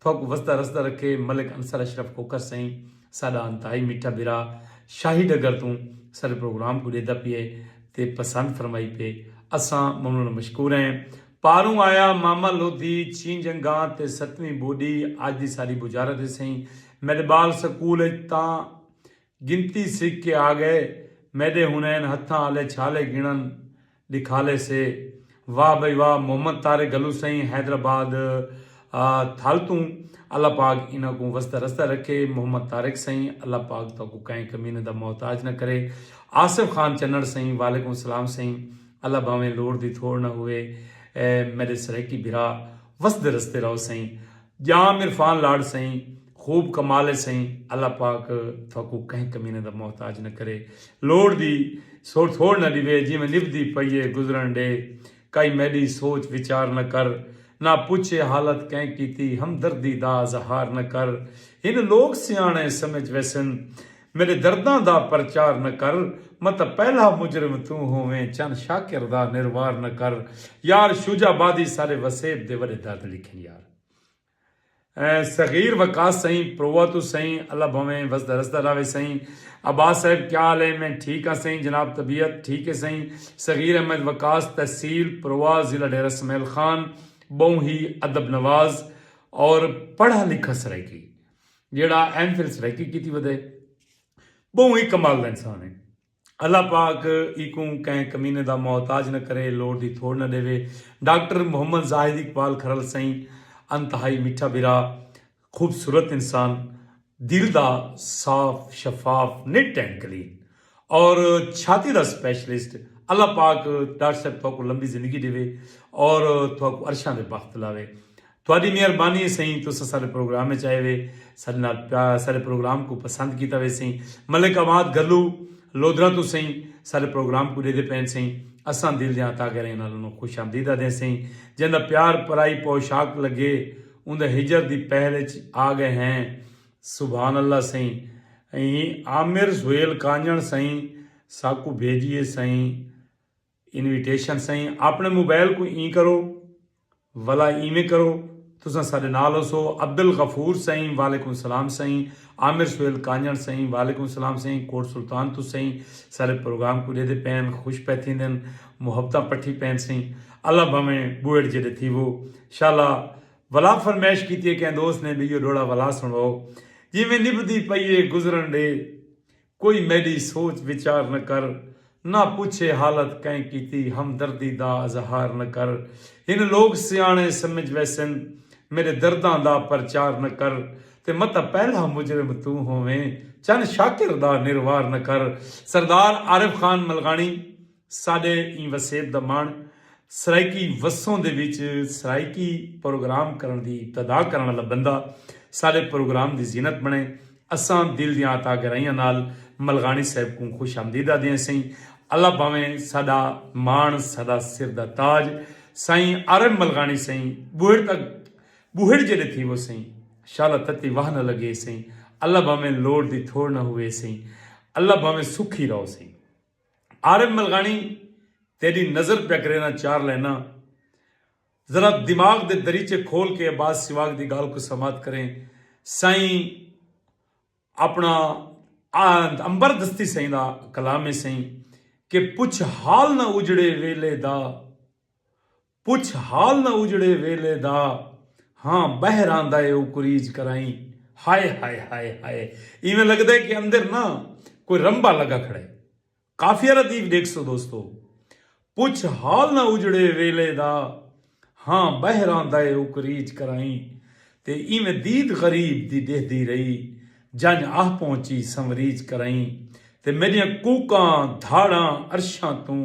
Speaker 1: تھوکوں وسدا رسدا رکھے ملک انصر اشرف کھوکھر سئیں ساڈا انتہائی میٹھا بھرا شاہی ڈگر توں ساڈے پروگرام کوں ڈیدا پیئے تے پسند فرمائی پے اساں ممنون مشکور ہیں پاروں آیا ماما لودھی چھین جنگاں تے ستویں بوڈی اج دی ساڈی بجارت ہے سئیں میڈبال سکول اچ تاں گنتی سکھ کے آ گئے میڈے ہنین ہتھاں آلے چھالے گنن ڈکھالے سے واہ بھئی واہ محمد طارق گھلو سئیں حیدرآباد تھل توں اللہ پاک انہاں کوں وسدا رسدا رکھے محمد طارق سئیں اللہ پاک تہاکوں کہیں کمینے دا محتاج نہ کرے آصف خان چنڑ سئیں وعلیکم السلام سئیں اللہ بھاویں لوڑ دی تھوڑ نہ ہووے میڈے سرائیکی بھرا وسدے رسدے رہو سئیں ڄام عرفان لاڈ سئیں خوب کمال ہے سئیں اللہ پاک تھاکوں کہیں کمینے دا محتاج نہ کرے لوڑ دی سوڑ تھوڑ نہ ڈیوے جیویں نبھدی پئی ہے گزرن ڈے کائی میڈی سوچ وچار نہ کر نہ پچھے حالت کیں کیتی ہمدردی دا اظہار نہ کر ہن لوگ سیانے سمجھ ویسن میڈے درداں دا پرچار نہ کر متاں پہلا مجرم توں ہوویں چن شاکر دا نروار نہ کر یار شوجہ بادی سارے وسیب دے وڈے درد لکھن یار۔ صغیر وقاص سئیں پرووا توں سئیں اللہ بھویں وسدا رسدا راوے سئیں عباس صاحب کیا حال ہے میں ٹھیک ہاں سئیں جناب طبیعت ٹھیک ہے سئیں صغیر احمد وقاص تحصیل پرووا ضلع ڈیرہ سمیل خان بہوں ہی ادب نواز اور پڑھا لکھا سرائیکی جیڑھا ایم فل سرائیکی کیتی ودے بہوں ہی کمال دا انسان ہے۔ اللہ پاک ایکوں کہیں کمینے دا محتاج نہ کرے لوڑ دی تھوڑ نہ ڈیوے ڈاکٹر محمد زاہد اقبال کھرل سئیں انتہائی میٹھا بھرا خوبصورت انسان دل دا صاف شفاف نٹ اینڈ کلین اور چھاتی دا سپیشلسٹ اللہ پاک ڈاکٹر صاحب تھوکو لمبی زندگی ڈیوے اور تھوکو عرشاں دے بخت لاوے تہاڈی مہربانی ہے سئیں تس اساڈے پروگرام اچ آئے وے ساڈے نال پیا اساڈے پروگرام کوں پسند کیتا وے سئیں ملک آباد گھلو لودھراں توں سئیں ساڈے پروگرام کوں ڈیدے پئین سئیں اساں دل دیاں عطا گھریں نال انہاں خوش آمدید آدھیں سئیں جیندا پیار پرائی پوشاک لگے اوندا ہجر دی پہل اچ آ گئے ہیں سبحان اللہ سئیں ایں عامر سہیل کانجھنڑ سئیں ساکوں بھیجیے سئیں۔ انویٹیشن سئیں آپݨے موبائل کوں ایں کرو ولا ایویں کرو تساں ساݙے نال ہوسو عبدالغفور سئیں وعلیکم سلام سئیں عامر سہیل کانجݨ سئیں وعلیکم سلام سئیں کوٹ سلطان توں سئیں ساݙے پروگرام کوں ݙیہدے پئین خوش پئے تھیندن محبتاں پٹھی پئین سئیں اللہ بھانویں ٻوہڑ جیݙے تھیوو شالا ولا فرمائش کیتی ہے کہیں دوست نے ٻیو ݙوہڑا ولا سݨوؤ جیویں نبھدی پئی ہے گزرݨ ݙے کوئی میڈی سوچ وچار نہ کر نہ پچھے حالت کئیں کیتی ہمدردی دا اظہار نہ کر ہن لوگ سیاݨے سمجھ ویسن میڈے درداں دا پرچار نہ کر تے متاں پہلا مجرم توں ہوویں چن شاکر دا نروار نہ کر سردار عارف خان ملغاݨی۔ ساݙے ایں وسیب دا مݨ سرائیکی وسوں دے وچ سرائیکی پروگرام کرݨ دی ابتدا کرݨ آلا بندہ ساݙے پروگرام دی زینت بݨے۔ اساں دل دیاں عطا گرائیاں نال ملغاݨی صاحب کوں خوش آمدید آہدے سئیں۔ اللہ بھانویں ساݙا ماݨ ساݙا سر دا تاج سائیں عارب ملغاݨی سئیں ٻوہڑ تاں ٻوہڑ جیݙے تھیوو سئیں۔ شالا تتی واہ نہ لڳے سئیں۔ اللہ بھانویں لوڑ دی تھوڑ نہ ہووے سئیں۔ اللہ بھانویں سکھی رہو سئیں۔ عارب ملغانی تیڈی نظر پیا کرے ناں چار لائناں ذرا دماغ دے دریچے کھول کے عباس سواگ دی گالھ کوں سماعت کریں سائیں اپنا امبر دستی سائیں دا کلام ہے سائیں کہ پچھ حال نہ اجڑے ویلے دا پچھ حال نہ اجڑے ویلے دا ہاں بہر آندا اے او کریج کرائیں ہائے ہائے ہائے ہائے ایویں لگدا اے کہ اندر نہ کوئی رمبا لگا کھڑا اے قافیہ ردیف ڈیکھسو دوستو پچھ حال نہ اجڑے ویلے دا ہاں بہر آندا اے او کریج کرائیں تے ایویں دید غریب دی ڈیہدی رہی جنج آہ پہنچی سنوریج کرائیں تے میڈیاں کوکاں دھاڑاں عرشاں توں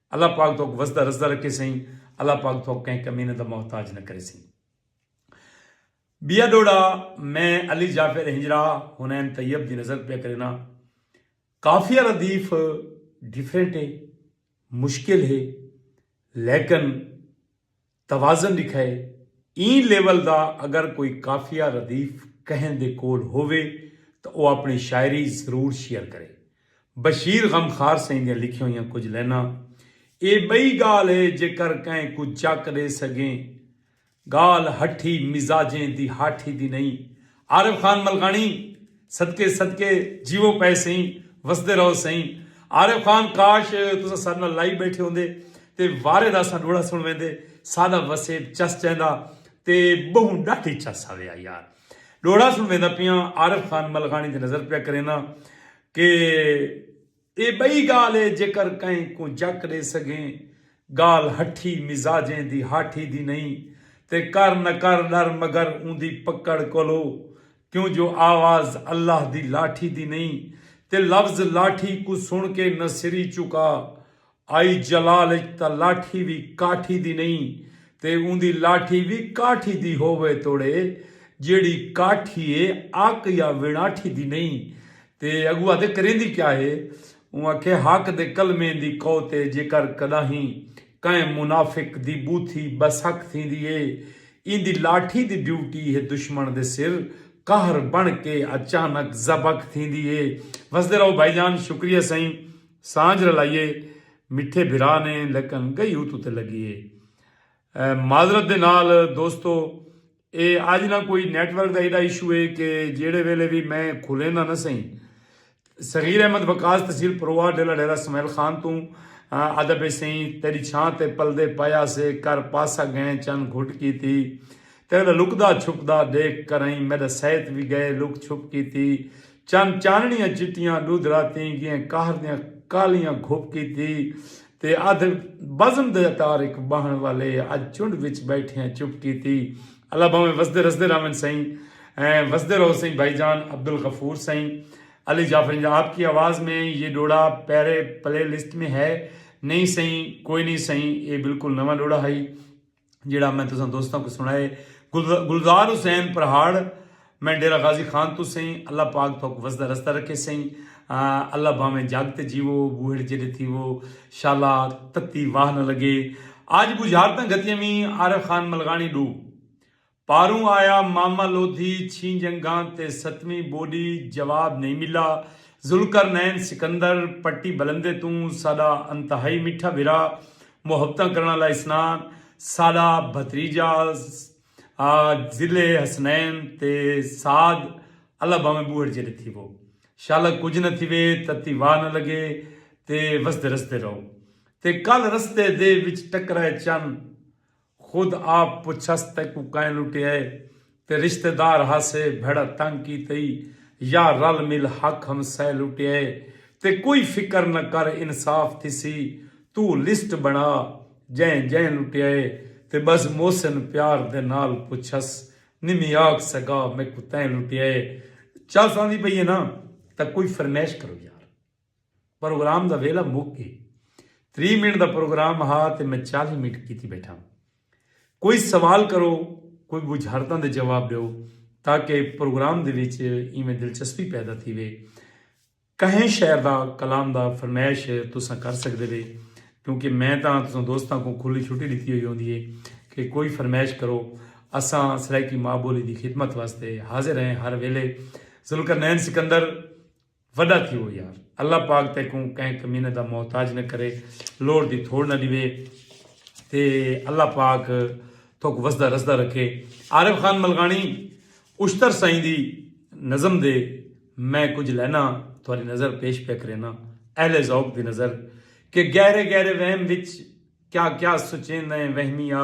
Speaker 1: اللہ پاک تہاکوں وسدا رسدا رکھے سئیں اللہ پاک تہاکوں کہیں کمینے دا محتاج نہ کرے سئیں بیا ڈوڑا میں علی جعفر ہنجرا حنین طیب دی نظر پہ کرنا قافیہ ردیف ڈیفرنٹ ہے مشکل ہے لیکن توازن ݙکھائے، ایں لیول دا اگر کوئی قافیہ ردیف کہیں دے کول ہووے تاں او اپݨی شاعری ضرور شیئر کرے۔ بشیر غمخوار سئیں دیاں لکھیاں ہوئیاں کجھ لائناں، اے ٻئی ڳالھ اے جیکر کہیں کوں چک ݙے سڳیں، ڳالھ ہٹھی مزاجیں دی ہاٹھی دی نئیں، عارف خان ملکاݨی صدقے صدقے جیوو پئے سئیں وسدے رہو سئیں عارف خان کاش تساں ساڈے نال لائیو بیٹھے ہوندے تے وارے دا اساں ڈوہڑا سن ویندے سادا وسیب چس چیندا تے بہوں ڈاڈھی چس آویا یار ڈوہڑا سن ویندا پیاں عارف خان ملکاݨی تے نظر پیا کرینا کہ اے بئی گالھ اے جیکر کہیں کوں جک ڈے سگھیں گالھ ہٹھی مزاجیں دی ہاٹھی دی نئیں تے کر نہ کر ڈر مگر اوندی پکڑ کولو کیوں جو آواز اللہ دی لاٹھی دی نئیں تے لفظ لاٹھی کوں سن کے نہ سری چکا آئی جلال اچ تاں لاٹھی وی کاٹھی دی نئیں تے اوندی لاٹھی وی کاٹھی دی ہووے توڑے جیڑھی کاٹھی اے اک یا وڑاٹھی دی نئیں تے اگو آدھے کریندی کیا ہے اوں آکھے حق دے کلمیں دی قوت اے جیکر کڈاہیں کہیں منافق دی بوتھی بسک تھیندی اے ایندی لاٹھی دی ڈیوٹی ہے دشمن دے سر قہر بن کے اچانک زبک تھیندی اے وسدے رہو بھائی جان شکریہ سئیں۔ سانجھ رلائیے مٹھے بھرا نے لیکن گئی اتو تے لگی اے معذرت دے نال دوستو اے اج نہ کوئی نیٹ ورک دا ایڈا ایشو اے کہ جیڑھے ویلے وی میں کھولیندا نہ سئیں صغیر احمد وقاص تحصیل پروار ڈیلا ڈیرہ سمیل خان توں ادا پئے سئیں تیڈی چھاں تے پلدے پایا سے کر پاسہ گئیں چن گھٹ کیتی تیڈا لکدا چھپدا ڈیکھ کرئیں میڈا سئیت وی گئے لک چھپ کیتی چن چانڑیاں چٹیاں ڈودھرا تیں گیئں قہر دیاں کالیاں گھپ کیتی تے ادھ بزم دے اتار اک بہن والے اج چنڈ وچ بیٹھیاں چپ کیتی اللہ بھاویں وسدے رسدے رہون سئیں وسدے رہو سئیں بھائی جان عبدالغفور سئیں علی جعفرنجا آپ کی آواز میں یہ ڈوڑا پہرے پلے لسٹ میں ہے نہیں سئیں کوئی نہیں سئیں اے بالکل نواں ڈوڑا ہئی۔ جیڑھا میں تساں دوستاں کوں سنڑائے گلزار حسین پرہاڑ میں ڈیرہ غازی خان توں سئیں اللہ پاک تھوک وسدا رسدا رکھے سئیں اللہ بھاویں جگ تے جیوو بوہڑ جیڈے تھیوو شالا تتی واہ نہ لگے اج بجھارتاں گھتیاں وی عارف خان ملغاڑی ڈو پاروں آیا ماما لودھی چھیں جنگاں تے ستویں بوڈی جواب نئیں ملا ذوالقرنین سکندر پٹی بلندے توں ساڈا انتہائی میٹھا بھرا محبتاں کرن آلا اسنان ساڈا بھتریجا آ ضلع حسنین تے سعد اللہ بھاویں بوہڑ جیڈے تھیوو شالا کجھ نہ تھیوے تتی واہ نہ لگے تے وسدے رسدے رہو تے کل رستے دے وچ ٹکرائے چن خود آپ پچھس تیکوں کائیں لٹیائے تے رشتے دار ہاسے بھیڑا تنگ کیتئی یا رل مل حق ہمسائے لٹیائے تے کوئی فکر نہ کر انصاف تھیسی توں لسٹ بنا جئیں جئیں لٹیائے تے بس محسن پیار دے نال پچھس نمی آکھ سگا میکوں تیں لٹیائے چل ساندی پئی ہے نا تاں کوئی فرمیش کرو یار۔ پروگرام دا ویلھا مک گئے۔ تریہہ منٹ دا پروگرام ہا تے میں چالیہہ منٹ کیتی بیٹھاں۔ کوئی سوال کرو، کوئی بجھارتاں دے جواب ڈیو تاکہ پروگرام دے وچ ایویں دلچسپی پیدا تھیوے۔ کہیں شعر دا، کلام دا فرمائش تساں کر سکدے وے کیونکہ میں تاں تساں دوستاں کوں کھلی چھٹی ڈتی ہوئی ہوندی ہے کہ کوئی فرمائش کرو۔ اساں سرائیکی ماء بولی دی خدمت واسطے حاضر ہیں ہر ویلھے۔ ذوالقرنین سکندر۔ وڈا تھیو یار اللہ پاک تیکوں کہیں کمینے دا محتاج نہ کرے لوڑ دی تھوڑ نہ ڈیوے تے اللہ پاک تھوک وسدا رسدا رکھے عارف خان ملغانی اشتر سائیں دی نظم دے میں کچھ لینا تھوڑی نظر پیش پہ کرینا اہل ذوق دی نظر کہ گہرے گہرے وہم وچ کیا کیا سچیندیں وہمیہ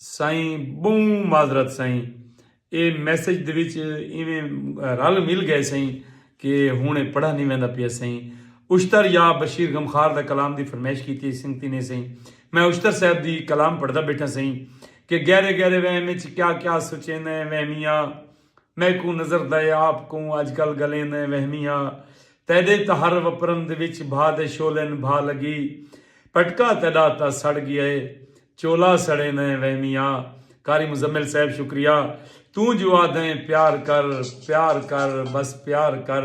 Speaker 1: سائیں بہوں معذرت سائیں اے میسج دے وچ ایویں رل مل گئے سائیں کہ ہن اے پڑھا نی ویندا پیا سائیں اشتر یا بشیر غمخوار دا کلام دی فرمائش کیتی ہئی سنگتی نے سائیں میں اشتر صاحب دی کلام پڑھدا بیٹھاں سائیں کہ گہرے گہرے وہم وچ کیا کیا سوچیندے وہمیاں میکوں نظر دئے آپ کوں اج کل گلیں دیں وہمی ہا تیڈے تہر وپرن دے وچ بھا دے شولن بھا لگی پٹکا تیڈا تاں سڑ گیا ہے چولا سڑیں دیں وہمی ہا قاری مزمل صاحب شکریہ توں جو آدھیں پیار کر پیار کر بس پیار کر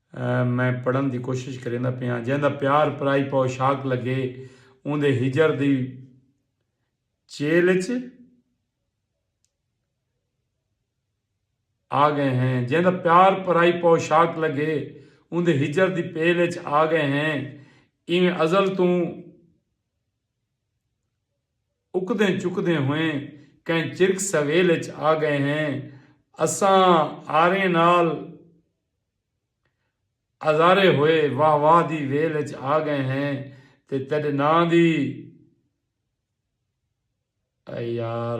Speaker 1: میں پڑھݨ دی کوشش کریندا پیاں جیندا پیار پرائی پوشاک لگے اوندے ہجر دی چیل اچ آ گئے ہیں جیندا پیار پرائی پوشاک لگے اوندے ہجر دی پیل اچ آ گئے ہیں ایویں ازل توں اکدیں چکدیں ہوئیں کہیں چرک سویل اچ آ گئے ہیں اساں آریں نال ہزارے ہوئے واہ واہ دی ویل اچ آ گئے ہیں تے تیڈے ناں دی اے یار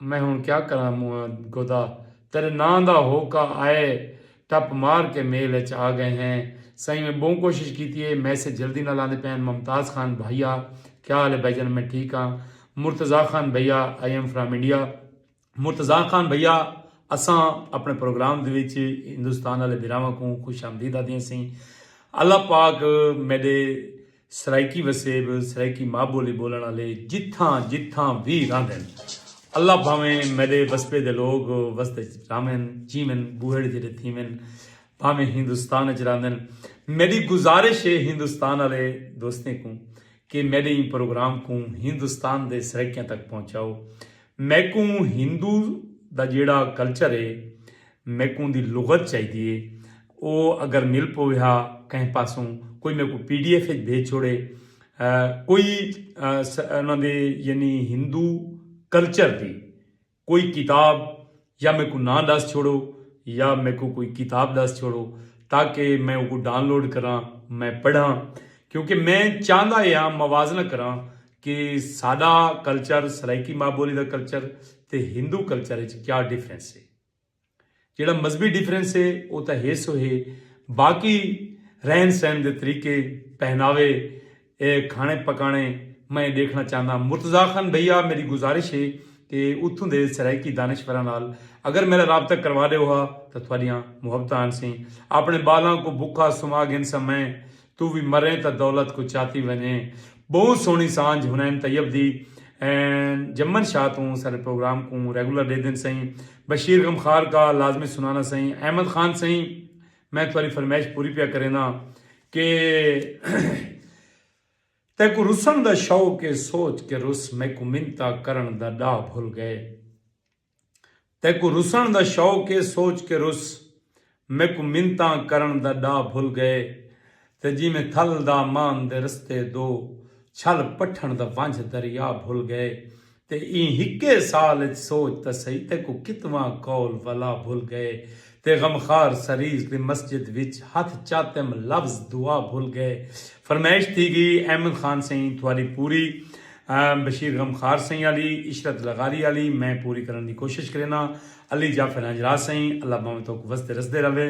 Speaker 1: میں ہن کیا کراں موئاں گودا تیڈے ناں دا ہوکا آئے ٹپ مار کے میل اچ آ گئے ہیں سائیں میں بہوں کوشش کیتی اے میسج جلدی نال آندے پئے ہن ممتاز خان بھائی آ کیا حال اے بھائی جان میں ٹھیک آں مرتضی خان بھائی آ I am from India Murtaza Khan بھیا اساں اپنے پروگرام دے وچ ہندوستان والے بھراواں کوں خوش آمدید آدھیاں سیں اللہ پاک میڈے سرائیکی وسیب سرائیکی ماں بولی بولن والے جتھاں جتھاں وی راندن اللہ بھاویں میڈے وسبے دے لوگ وسد وچ راوین جیون بوہڑ جڑے تھیون بھاویں ہندوستان وچ راندن میڈی گزارش ہے ہندوستان والے دوستیں کوں کہ میڈے ایں پروگرام کوں ہندوستان دے سرائیکیاں تک پہنچاؤ میکوں ہندو دا جیڑھا کلچر ہے میکوں دی لغت چاہیدی ہے او اگر مل پویہا کہیں پاسوں کوئی میکوں پی ڈی ایف اچ بھیج چھوڑے کوئی انہاں دے یعنی ہندو کلچر دی کوئی کتاب یا میکوں ناں ڈس چھوڑو یا میکوں کوئی کتاب ڈس چھوڑو تاکہ میں اوکوں ڈان لوڈ کراں میں پڑھاں کیونکہ میں چاہندا اے ہاں موازنہ کراں کہ ساڈا کلچر سرائیکی ماء بولی دا کلچر تے ہندو کلچر اچ کیا ڈیفرنس اے جیڑھا مذہبی ڈیفرنس اے او تاں ہے سو ہے باقی رہن سہن دے طریقے پہناوے اے کھانے پکانے میں ڈیکھنا چاہنداں مرتضاخان بھیا میڈی گزارش ہے کہ اتھوں دے سرائیکی دانشوراں نال اگر میڈا رابطہ کروا ڈیو ہا تاں تھوڈیاں محبتاں آنسیں اپنے بالاں کوں بکھا سما گھنساں میں توں وی مریں تاں دولت کوں چاتی ونجیں بہوں سوہنی سانجھ حنین طیب دی این جمن شاہ توں ساڈے پروگرام کوں ریگولر ڈیدن سئیں بشیر غمخار کا لازمی سنانا سئیں احمد خان سئیں میں تہاݙی فرمائش پوری پیا کرینداں کہ تیکوں رسݨ دا شوق اے سوچ کے رس میکوں منتاں کرݨ دا ݙاہ بھل ڳئے تیکوں رسݨ دا شوق اے سوچ کے رس میکوں منتاں کرݨ دا ݙاہ بھل ڳئے تے جیویں تھل دا مان دے رستے دو چھل پٹھݨ دا ونجھ دریا بھل گئے تے ایں ہکے سال اچ سوچ تاں سہی تیکوں کتواں قول ولا بھل گئے تے غمخوار سریز دی مسجد وچ ہتھ چاتم لفظ دعا بھل گئے فرمائش تھی گی احمد خان سئیں تھواری پوری بشیر غمخوار سئیں آلی عشرت لغاری آلی میں پوری کرݨ دی کوشش کرینداں علی جعفر ہنجراہ سئیں اللہ بھانویں توک وسدے رسدے رہوے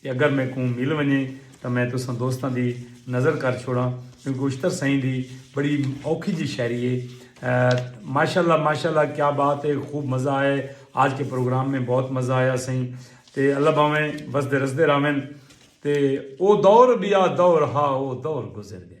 Speaker 1: تے اگر میکوں مل ونجے تاں میں تساں دوستاں دی نذر کر چھوڑاں کیونکہ اشتر سئیں دی بڑی اوکھی جی شاعری اے ماشاءاللہ ماشاءاللہ کیا بات اے خوب مزہ آئے آج کے پروگرام میں بہت مزہ آیا سئیں تے اللہ بھاویں وسدے رسدے راہون تے او دور بیا دور ہا او دور گزر گئے۔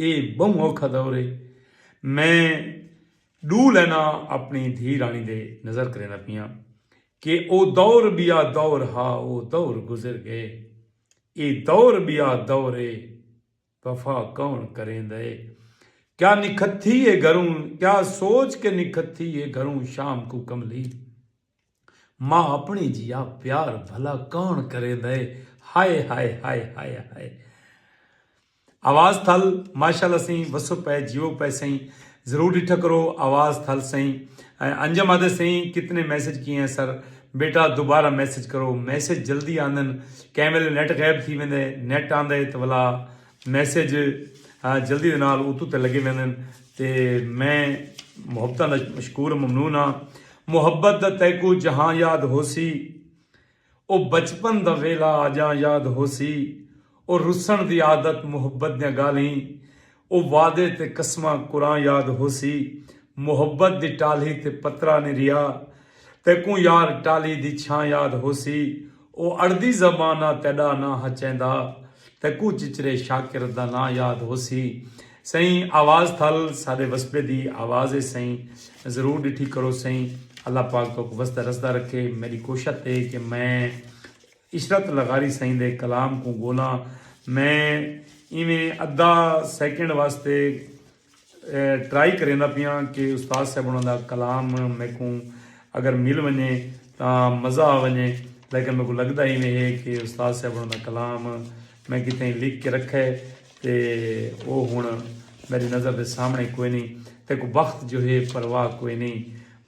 Speaker 1: اے بہوں اوکھا دور اے۔ میں ڈو لیناں اپنی دھی رانی دے نظر کریندا پیاں کہ او دور بیا دور ہا او دور گزر گئے۔ اے دور بیا دور اے وفا کون کریندا اے۔ کیا نکھتھی اے گھروں کیا سوچ کے نکھتھی اے گھروں شام کوں کملی۔ ماء اپݨے جیہا پیار بھلا کون کریندا ہے ہائے ہائے ہائے ہائے ہائے آواز تھل ماشاءاللہ سئیں وسو پئے جیو پئے سئیں ضرور ڈٹھا کرو آواز تھل سئیں انجم آدھے سئیں کتنے میسج کیے ہیں سر بیٹا دوبارہ میسج کرو میسج جلدی آندن کہیں ویلے نیٹ غائب تھی ویندے نیٹ آندا ہے تو ولا میسج جلدی دے نال اتو تے لگے ویندن تے میں محبتاں دا مشکور ممنون ہاں محبت دا تیکوں جہاں یاد ہوسی او بچپن دا ویلھا آجاں یاد ہوسی او رسݨ دی عادت محبت دیاں ڳالھیں او وعدے تے قسماں قراں یاد ہوسی محبت دی ٹالھی تے پترا نی ریا تیکوں یار ٹالھی دی چھاں یاد ہوسی او اڑدی زبان آ تیڈا ناں ہا چیندا تیں کوں چچرے شاکر دا ناں یاد ہوسی سئیں آواز تھل ساڈے وسبے دی آواز اے سئیں ضرور ڈٹھی کرو سئیں اللہ پاک توک وسدا رسدا رکھے میڈی کوشت اے کہ میں عشرت لغاری سئیں دے کلام کوں گولاں میں ایویں ادا سیکنڈ واسطے ٹرائی کریندا پیاں کہ استاد صاحب انہاں دا کلام میکوں اگر مل ونجے تاں مزہ آ ونجے لیکن میکوں لگدا ایویں ہے کہ استاد صاحب انہاں دا کلام میں کتھے لکھ کے رکھا ہے تے او ہن میڈی نظر دے سامنے کوئی نی تے کو وقت جو ہے پرواہ کوئی نی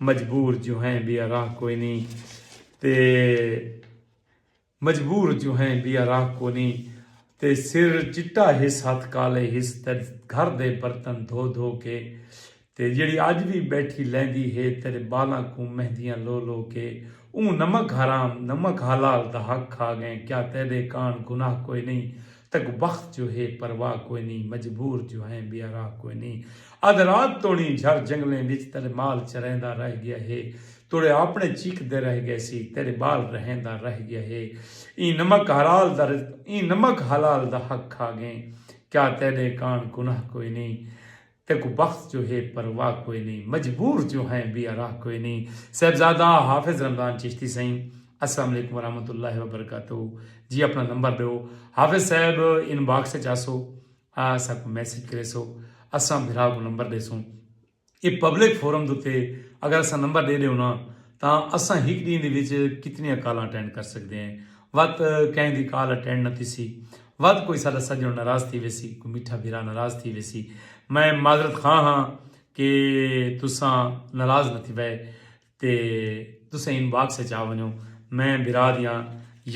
Speaker 1: مجبور جو ہیں بیا راہ کوئی نی تے مجبور جو ہیں بیا راہ کونی تے سر چٹا ہس ہتھ کالے ہس تیڈ گھر دے برتن دھو دھو کے تے جیڑی اج وی بیٹھی لیندی ہے تیڈ بالاں کوں مہندیاں لو لو کے اوں نمک حرام نمک حلال دا حق کھا گئیں کیا تیڈے کان گناہ کوئنی تک وخت جو ہے پرواہ کوئنی مجبور جو ہیں بیا راہ کوئنی ادھ رات توڑیں جھر جنگلیں وچ تیڈے مال چریندا رہ گیا ہے توڑے آپڑیں چیکدے رہ گئے سی تیڈے بال رہیندا رہ گیا ہے ایں نمک حلال دا رزق ایں نمک حلال دا حق کھا گئیں کیا تیڈے کانڑ گناہ کوئی نیں تیکوں بخت جو ہے پرواہ کوئی نیں مجبور جو ہیں بی اراہ کوئی نیں صاحبزادہ حافظ رمضان چشتی سئیں السلام علیکم ورحمۃ اللہ وبرکاتہ جی اپنا نمبر ڈیو حافظ صاحب ان باکس چ آسو آ اساں کوں میسج کریسو اساں بھرا کوں نمبر ڈیسوں اے پبلک فورم دے اتے اگر اساں نمبر ڈے ڈیوں نا تاں اساں ہک ڈینہہ دے وچ کتنیاں کالاں اٹینڈ کر سکدے ہیں وت کہیں دی کال اٹینڈ نہ تھیسی وت کوئی ساڈا سجن ناراض تھی ویسی کوئی میٹھا بھرا ناراض تھی ویسی میں معذرت خواہ ہاں کہ تساں ناراض نہ تھیوے۔ تے تسیں ان باکس اچ آ ونجو میں بھرا دیاں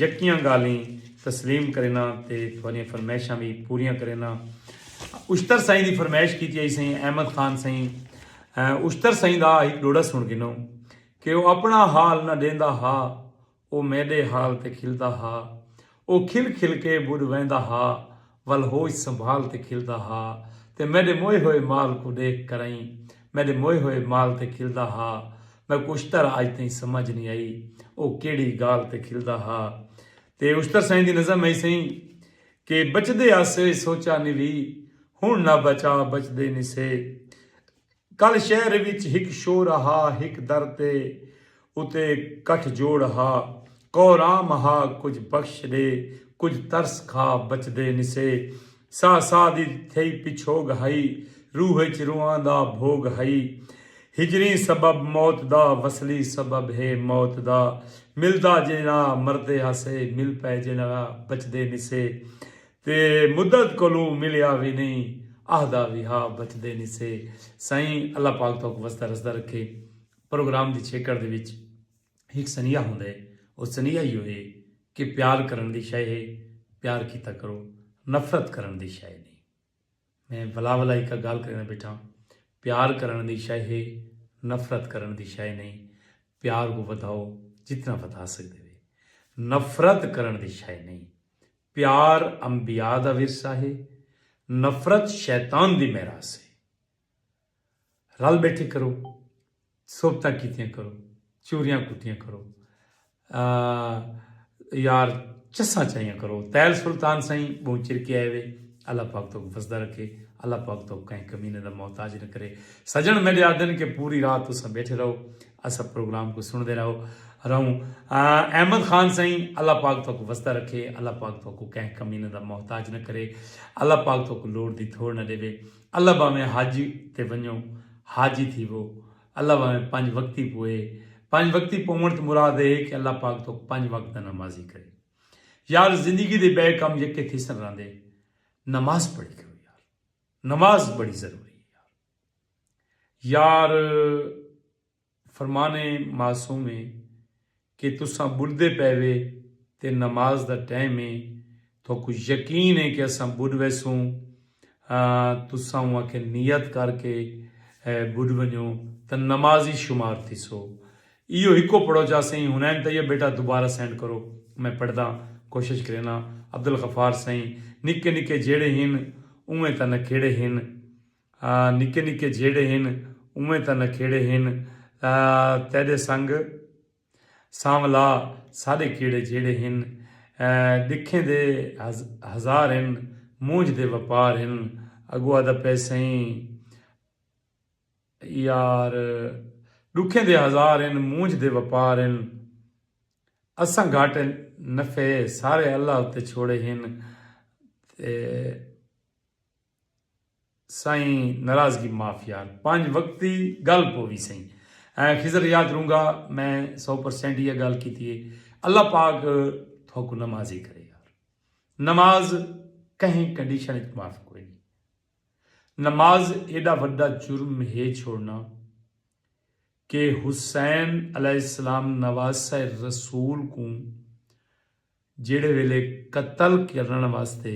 Speaker 1: یکیاں گالھیں تسلیم کرینا تے تھوڑیاں فرمائشاں وی پوریاں کرینا اشتر سائیں دی فرمائش کیتی آئی سائیں احمد خان سائیں اشتر سائیں دا ایک ڈوڑا سن گنو کہ وہ اپنا حال نہ دیندا ہا او میݙے حال تے کھلدا ہا۔ او کھل کھل کے ٻݙ ویندا ہا ول ہوش سنبھال تے کھلدا ہا تے میݙے موئے ہوئے مال کوں ݙیکھ کرئیں میݙے موئے ہوئے مال تے کھلدا ہا۔ میکوں اشتر اڄ تئیں سمجھ نی آئی او کیڑھی ڳالھ تے کھلدا ہا۔ تے اشتر سئیں دی نظم ہئی سئیں کہ بچدے آسے سوچا نی وی ہݨ نہ بچا بچدے نی سے۔ کل شہر وچ ہک شور ہا ہک در تے اتے گٹھ جوڑ ہا کورام ہا کجھ بخش ڈے کجھ ترس کھا بچدے نسے ساہ ساہ دی تھئی پچھوگ ہئی روح اچ رواں دا بھوگ ہئی ہجریں سبب موت دا وصلی سبب ہے موت دا ملدا جیہڑا مردے ہاسے مل پئے جیہڑا بچدے نسے تے مدت کولوں ملیا وی نئیں آہدا وی ہا بچدے نی سے سائیں اللہ پاک توک وسدا رسدا رکھے پروگرام دی چھیکڑ دے وچ ہک سنیہا ہوندا ہے او سنیہا ایہو ہے کہ پیار کرݨ دی شئے ہے پیار کیتا کرو نفرت کرݨ دی شئے نی۔ میں ولا ولا ہکا گالھ کریندہ بیٹھاں۔ پیار کرنڑ دی شئے ہے نفرت کرنڑ دی شئے نئیں۔ پیار کوں ودھاؤ جتنا ودھا سگدے وے۔ نفرت کرنڑ دی شئے نئیں۔ پیار انبیاء دا ورثہ ہے۔ نفرت شیطان دی میراث ہے۔ رل بیٹھے کرو صحبتاں کیتیاں کرو چوریاں کٹیاں کرو یار چساں چائیاں کرو تیل سلطان سائیں بہت چر کے آئے وے اللہ پاک تو وسدہ رکھے اللہ پاک تو کہیں کمینے دا محتاج نہ کرے سجن میرے آدن کے پوری رات تو سب بیٹھے رہو اسا پروگرام کو سن دے رہو رہوں احمد خان سائیں اللہ پاک تو وسدہ رکھے اللہ پاک تو کہیں کمینے دا محتاج نہ کرے اللہ پاک تو لوڑ دی تھوڑ نہ دے اللہ بھانویں حج تے ونجو حاجی تھیوو، اللہ بھانویں پنج وقتی پوئے، پنج وقتی پوونڑ توں مراد اے کہ اللہ پاک تہاکوں پنج وقت دا نمازی کرے یار زندگی دے بئے کم یکے تھیسن راندے نماز پڑھی کرو یار نماز بڑی ضروری اے یار یار فرمان اے معصومے کہ تساں ٻݙدے پئے وے تے نماز دا ٹائم اے، تہاکوں یقین اے کہ اساں ٻݙ ویسوں، تساں اوں آکھے نیت کر کے ٻݙ ونڄو تاں نمازی شمار تھیسو، ایہو ہکو پڑھو جا سئیں حنین طیب بیٹا دوبارہ سینڈ کرو میں پڑھداں، کوشش کرینداں، عبدالغفار سئیں نکے نکے جیڑھے ہن اونویں تاں نکھیڑے ہن، نکے نکے جھیڑے ہن اونویں تاں نکھیڑے ہن تیڈے سنگ سانولا ساڈے کیڑے جھیڑے ہن ڈکھیں دے ہزار ہن مونجھ دے وپار ہن اگو آدھا پئے سئیں یار ڈکھیں دے ہزار ہن مونجھ دے وپار ہن اساں گھاٹے نفعے سارے اللہ اتے چھوڑے ہن تے سائیں ناراضگی معاف یار پنج وقت دی گل پووی سائیں ایں خضر یاد رونگا میں سو پرسینٹ ایہا گال کیتی ہے اللہ پاک تھوکوں نمازی کرے یار نماز کہیں کنڈیشن اچ معاف کوئی نہیں نماز ایڈا وڈا جرم ہے چھوڑنا کہ حسین علیہ السلام نواسہ رسول کوں جیڑے ویلے قتل کرن واسطے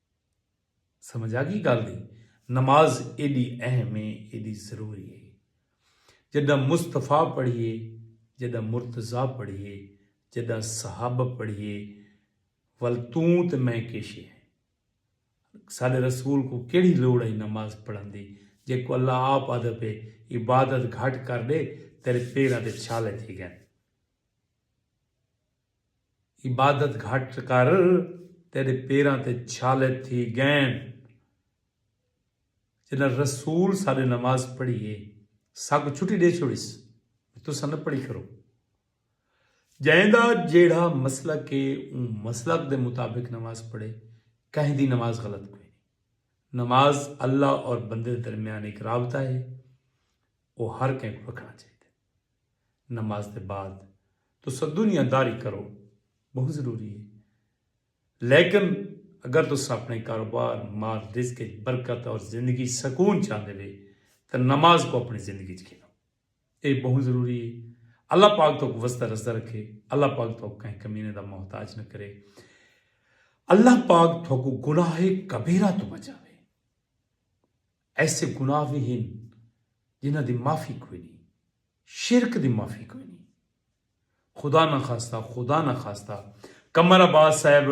Speaker 1: سمجھ آگی گالھ دی؟ نماز ایڈی اہم ہے ایڈی ضروری ہے۔ جڈاں مصطفی پڑھیے جڈاں مرتضی پڑھیے جڈاں صحابہ پڑھیے ول توں تے میں کیشے ہیں۔ ساڈے رسول کوں کیڑھی لوڑ ہئی نماز پڑھن دی جیکوں اللہ آپ آدھے پے عبادت گھٹ کر ڈے تیرے پیراں دے چھالے تھی گئن۔ عبادت گھٹ کر تیڈے پیراں تے چھالے تھی گئن۔ جڈاں رسول ساڈے نماز پڑھی اے ساکوں چھٹی ڈے چھوڑیس بھئی تساں نہ پڑھی کرو۔ جئیں دا جیڑھا مسلک اے اوں مسلک دے مطابق نماز پڑھے کہیں دی نماز غلط کوئی نی۔ نماز اللہ اور بندے دے درمیان ہک رابطہ اے او ہر کہیں کوں رکھنا چاہیدا۔ نماز دے بعد تساں دنیا داری کرو بہوں ضروری ہے لیکن اگر تساں اپنے کاروبار مال رزق اچ برکت اور زندگی اچ سکون چاہندے وے تاں نماز کوں اپنی زندگی اچ گھنو ایہ بہوں ضروری ہے اللہ پاک توک وسدا رسدا رکھے اللہ پاک توک کہیں کمینے دا محتاج نہ کرے اللہ پاک توکوں گناہ کبیرہ توں بچاوے۔ ایسے گناہ وی ہن جنہاں دی معافی کوئی نی۔ شرک دی معافی کوئی نی۔ خدا نخواستہ خدا نخواستہ قمر عباس صاحب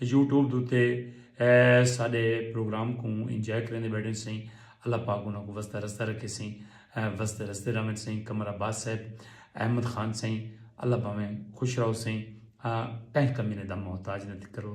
Speaker 1: یوٹیوب دے اتے ساڈے پروگرام کوں انجوائے کریندے بیٹھن سئیں اللہ پاک انہاں کوں وسدا رسدا رکھے سئیں وسدے رسدے رہون سئیں قمر عباس صاحب احمد خان سئیں اللہ بھاویں خوش رہو سئیں کہیں کمینے دا محتاج نہ تھی کرو۔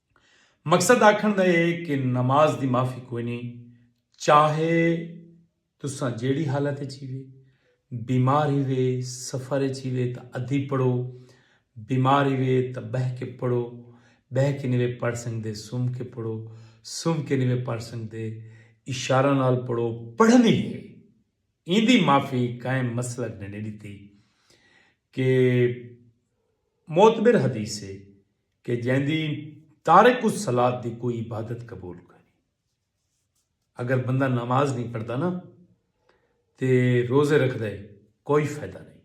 Speaker 1: مقصد آکھݨ دا اے کہ نماز دی معافی کوئنی چاہے تساں جیڑھی حالت اچ ہیوے، بیمار ہیوے، سفر اچ ہیوے تاں ادھی پڑھو، بیمار ہیوے تاں ٻہہ کے پڑھو، ٻہہ کے نیوے پڑھ سنگدے سم کے پڑھو، سم کے نیوے پڑھ سنگدے اشارہ نال پڑھو، پڑھݨی اے، ایندی معافی قائم مسلک نے نی ݙتی کہ معتبر حدیث اے۔ کہ جیندی تارک الصلاۃ دی کوئی عبادت قبول کوئی نہیں اگر بندہ نماز نہیں پڑھتا نا تے روزے رکھ دے کوئی فائدہ نہیں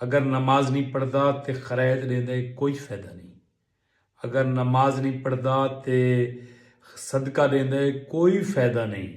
Speaker 1: اگر نماز نہیں پڑھتا تے خرائط دین دے کوئی فائدہ نہیں اگر نماز نہیں پڑھتا تے صدقہ دین دے کوئی فائدہ نہیں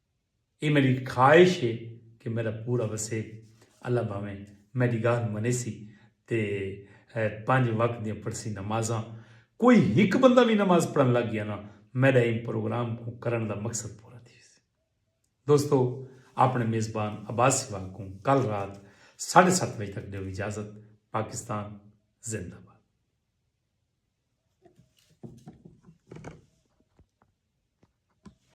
Speaker 1: اے میڈی خواہش ہے کہ میڈا پورا وسے۔ اللہ بھاویں میڈی گالھ منیسی تے پنج وقت دیاں پڑھسی نمازاں۔ کوئی ہک بندہ وی نماز پڑھن لگ گیا نا میڈا ایں پروگرام کوں کرنڑ دا مقصد پورا تھی ویسی۔ دوستو آپنڑے میزبان عباس سہواگ کوں کل رات ساڈھے ست بجے تک ڈیو اجازت۔ پاکستان زندہ باد۔